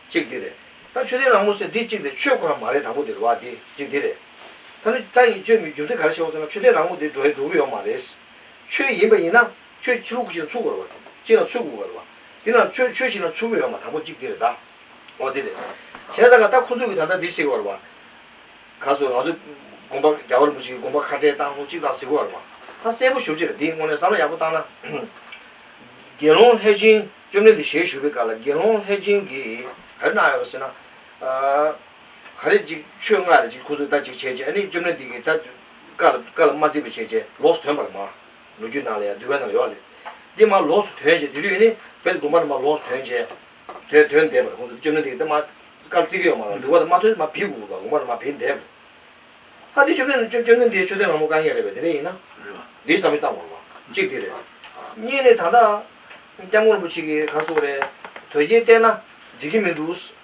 གཅིག་འདི་རེད། ད་ཆོས་ལྡན་རང་མོ་སེ་འདི་གཅིག་དེ་ཆོས་ཁོ་རང་མ་རེད་དང་པོ་འདི་རེད་བ་འདི་གཅིག་འདི་རེད། ད་ནི་ད་ཡིན་ཅོ་མི་འགྱུར་དེ་ག་རེ་བྱེད་དགོས་ཟེར་ན་ཆོས་ལྡན་རང་མོ་དེ་འགྲོ་ཡི་འགྲོ་གི་ཡོག་མ་རེད། ཆོས་ཡིན་པ་ཡིན་ན་ཆོས་ཆུ་ལུག་ཅིག་ན་ཚུགས་དགོས་རེད་བ། ཅིག་ན་ཚུགས་དགོས་རེད་བ། དེ་ན་ཆོས་ཆོས་ཅིག་ན་ཚུགས་གི་ཡོག་མ་དང་པོ་གཅིག་དེ་རེད་ད། འོ་དེ་རེད། བྱས་ཙང་ང་ད་ཁོ་ཚོ་གི་ད་ལྟ་འདི་གཟིགས་དགོས་རེད་བ། ག་ཚོད་ང་ཚོ་དགོན་པ་རྒྱ་བར་མོ་ཅིག་གི་དགོན་པ་ཁ་བྲལ་སྟངས་སོགས་ཅིག་ད་གཟིགས་དགོས་རེད་བ། ད་གསལ་པོ་ཞུ་བྱེད་རེད་འདི་དངོས་གནས་བསམ་བློ་ཡག་པོ་བཏང་ན། དགེ་སློང་ལྷས་སྦྱིན་བཅོམ་ལྡན་འདས་ཞལ་བཞུགས་པའི་སྐབས་ལ་དགེ་སློང་ལྷས་སྦྱིན་གྱིས་ག་རེ་གནང་ཡོད་རེད་ཟེར་ན། ག་རེ་གཅིག་ཆོས་ལྔ་རེ་གཅིག་ཁུ་ཚུར་ལྟ་གཅིག་བྱས་རྗེས་ཨ་ནི་བཅོམ་ལྡན་འདས་ཀྱིས་ད། ཀར་ཀར་མ་བརྩིས་པ་བྱས་རྗེས་ལོགས་སུ་དོན་པར་མ། ལོ་རྒྱུས་ནང་ལ་ཡང་འདུལ་བའི་ནང་ལ་ཡོད་རེད། དེ་མ་ལོགས་སུ་དོན་བྱས་དེ་དུས་ཨ་ནི་བེར་དགུ་མར་མ་ལོགས་སུ་དོན་བྱས། དོན་དོན་འདས་པར་ཁུ་ཚུར་བཅོམ་ལྡན་འདས་ཀྱིས་ད་མ། ཀར་བརྩི་གི་ཡོད་མ་ལ་འདུལ་བ་དང་མ་ཐོས་མ་བེར་དགུ་དགུ་མར་མ་བེར་འདས་པར། ཨ་ནི་བཅོམ་ལྡན་བཅོམ་བཅོམ་ལྡན་འདས་ཆོས་དོན་ལྷ་མོ་བཀའ་ངེས་རེད་པས་དེ་འདྲ་ཡིན་ན། རེད་པ། འདིའི་བསམ་བཞིན་བཏང་དགོས་རེད་པ། གཅིག་དེ་རེད། གཉིས་ནི་ད་ལྟ། སྐྱབས་མགོན་རིན་པོ་ཆེ་གིས་གར་བཙུགས་པ་རེད། དོལ་རྒྱལ་བསྟེན་ན་འགྲིག་གི་མི་འདུག།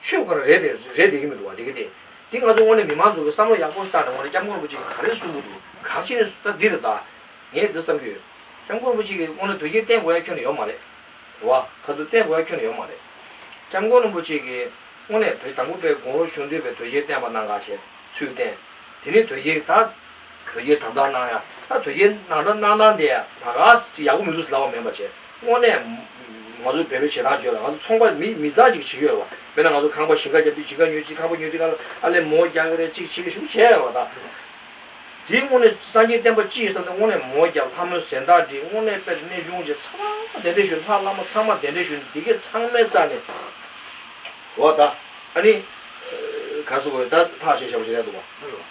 ཆོས་སྒོ་ར་རེད་དེ་རེད་བསྡད་ཀྱི་མི་འདུག་བ་དེ་གི་དེ་དེ་ང་ཚོ་དངོས་གནས་མི་མང་ཚོ་གི་བསམ་བློ་ཡག་པོ་བཏང་ནས་དངོས་གནས་སྐྱབས་མགོན་རིན་པོ་ཆེ་གི་ག་རེ་གསུང་གི་འདུག་ག་ཕྱི་ནས་ད་འདི་རུ་བལྟ། ངས་འདི་བསམ་གྱི་ཡོད། སྐྱབས་མགོན་རིན་པོ་ཆེ་གི་དངོས་གནས་དོན་རྐྱེན་བསྟན་དགོས་ཡ་ཁྱོན་ནས་ཡོད་མ་རེད། བ་ག་དུ་བསྟན་དགོས་ཡ་ཁྱོན་ནས་ཡོད་མ་རེད། སྐྱབས་མགོན་རིན་པོ་ཆེ་གི་དངོས་གནས་བོད་དང་པོ་པའི་དགུང་ལོ་གཞུང་དུས་པའི་དོལ་རྒྱལ་བསྟན་པ་གནང་ག་བྱས་ཚུལ་བསྟན། དེ་ནས་དོལ་རྒྱལ་ད། དོལ་རྒྱལ་དམ་དྲག་གནང་ཡང་ད་དོལ་རྒྱལ་ནང་དྲག་གནང་སྟངས་དེ་ད་ག་ཅིག་ཡག་པོ་མི་འདུག་ཟེར་ལབ་པ་མིན་པ་བྱས། དངོས་གནས། ང་ཚོ་བལ་པོའི་བྱེད་སྟངས་བརྗོད་ལ་ང་ཚོ་ཚོང་པ་མི་མི་ཙང་ཅིག་བྱེད་ཡོད་རེད་བ། མེད་ན་ང་ཚོ་ཁང་པ་བཞི་ཁ་རྒྱབ་དུས་གཅིག་ཁ་ཉོས་གཅིག་ཁང་པ་ཉོས་དུས་ཁ་ཨ་ལས་མོ་རྒྱག་གི་རེད་ཅིག་བྱེད་གི་ཞུགས་བྱས་ཡོད་རེད་བ། དེ་དངོས་གནས་སངས་རྒྱས་བསྟན་པ་སྤྱི་ཡི་བསམ་སྟེ་དངོས་གནས་མོ་རྒྱག་ལྷ་མོའི་ཟེར་མདངས་བྲིས་དངོས་གནས་དཔེར་གནས་ཆུང་བྱས་ཚང་མ་གདན་འདྲེན་ཞུས་ལྷ་བླ་མ་ཚང་མ་གདན་འདྲེན་ཞུས་ནས་དེ་གས་ཚང་མའི་རྩ་ནས། བ་ད། ཨ་ནི། ག་ས་གོ་རེད་ད་ཐག་བྱས་བྱས་པ་ཞིག་རེད་འདུག་བ།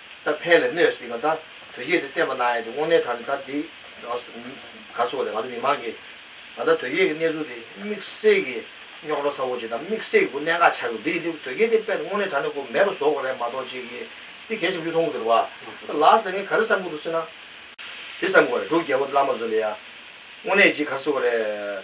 ད་ཕན་ལས་གནོད་སྲིད་པ་ད་བོད་ཡིག་དེ་བསྟན་པ་གནང་ཡས་དེ་དབང་ལེན་དྲག་ནས་ད་འདི་ག་ཚོགས་ནས་ང་ཚོ་མི་མང་གིས་ད་ད་བོད་ཡིག་གི་གནས་ཚུལ་དེ་དམིགས་བསལ་གི་རྙོག་དྲ་ཚ་བོ་ཅིག་དང་དམིགས་བསལ་གི་གནད་འགག་ཆགས་ཀྱི་འདུག་འདི་ཡིན་དུས་བོད་སྐད་དེ་དཔེ་དང་དབང་ལེན་དྲག་ནས་ཁོ་མེད་པ་བཟོ་དགོས་རེད་མ་གཏོགས་ཅིག་གིས་འདི་གས་ཆམ་ཆུ་འཐུང་གི་འདུག་རེད་བ། ལགས་ཟེར་ངས་ག་རེ་བསམ་གི་འདུག་ཟེར་ན། འདི་བསམ་དགོས་རེད་འབྲུག་རྒྱལ་པོ་དེ་བླ་མ་བཟོ་ལེ་ཡ། དངོས་གནས་ཅིག་ག་ཚོགས་རེད།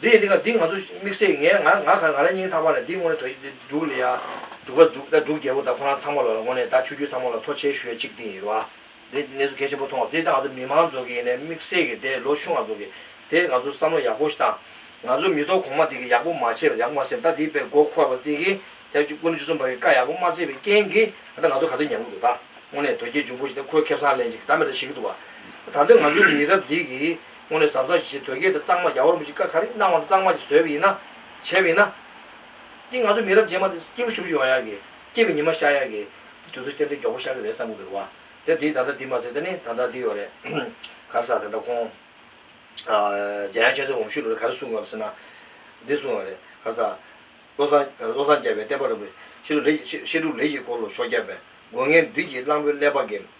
འདི་ཡིན་འདི་ག་འདི་ང་ཚོ་དམིགས་བསལ་ངས་ང་ང་གང་ང་ལ་སྙིང་ཐག་པ་ལ་འདི་དངོས་དོ་ཡིན་འདི་འབྲུག་ལི་ཡ་འབྲུག་པ་འབྲུག་ཟླ་འབྲུག་རྒྱལ་པོ་ད་ཁོ་རང་ཚང་མ་ལོ་ལ་ངོ་ནས་ད་ཆོས་རྒྱུད་ཚང་མ་ལ་ཐོ་ཆེ་ཞུ་ཡ་གཅིག་འདི་ཡིན་རུ་ཨ། འདི་གནས་ཚུལ་གལ་ཆེན་པོ་མཐོང་བ་དེ་ད་ང་ཚོ་མི་མང་ཚོ་གི་ཡིན་ནའི་དམིགས་བསལ་གི་དེ་ལོ་ཤུ་ང་ཚོ་གི་དེ་ང་ཚོ་བསམ་བློ་ཡག་པོ་ཞིག་བཏང། ང་ཚོ་མི་ཐོ་གོང་མ་དེ་གི་ཡག་པོ་མ་བྱས་པ་ཡག་པོ་མ་སེམས་ད་དེ་པའི་མགོ་འཁོར་བ་དེ་གི་རྒྱ་ཆུ་ཀུན་ལོ་བཅུ་གསུམ་པ་གི་བཀའ་ཡག་པོ་མ་བསྩལ་བའི་རྐྱེན་གི་ད་ང་ཚོ་ག་ཚོད་ཉན་གི་འདུག་ད་དངོས་ནས་དོལ་རྒྱལ་འབྱུང་པོ་ཞིག་དེ་ཁོའི་ཁེབས་སང་ལན་ཅིག་ད་མེད་དོ་བྱེད་གི་འདུག་བ། ད་འདི་ང་ཚོའི་མི་རབས་འདི་གི་སྔོན་ལས་ཟབ་ས་ཞིག་ཞེས་དོལ་རྒྱལ་དང་གཙང་མ་རྒྱ་ཧོར་མོ་གཅིག་ཀ་ག་རེ་གནང་བ་འདི་གཙང་མ་གཅིག་བཟོས་པ་ཡིན་ན། བྱས་པ་ཡིན་ན། འདི་ང་ཚོ་མི་རབས་རྗེས་མ་འདི་སྐྱེས་བུ་ཞུ་བཞུ་ཡོང་ཡག་གི། སྐྱེས་པའི་ཉི་མ་ཤར་ཡག་གི། འདི་དུས་ཚོད་སྟེང་འདི་མགྱོགས་པོ་ཤར་གི་རེད་བསམ་གི་འདུག་བ། དེ་འདི་ད་ལྟ་འདི་མ་ཚད་ད་ནི་ད་ལྟ་འདི་ཡོད་རེད། ག་ས་ད་ལྟ་ཁོང། རྒྱ་ཡང་ཆེན་བཟོའི་འོམ་ཤུད་ལོ་རེ་ག་རེ་གསུངས་ཡོང་རེད་ཟེར་ན། འདི་གསུངས་ཡོང་རེད་ག་ས། བློ་བཟང་བློ་བཟང་རྒྱལ་བའི་བསྟན་པ་རིན་པོ་ཆེ་ལོ་རེ་བཞི་བཤད་སྒྲུབ་ལས་ཀྱི་སྐོར་ལོ་ཞོ་བརྒྱ་པའི་དགོན་ངན་བདུད་ཀྱི་གླང་པོའི་ཀླད་པ་འགེམས།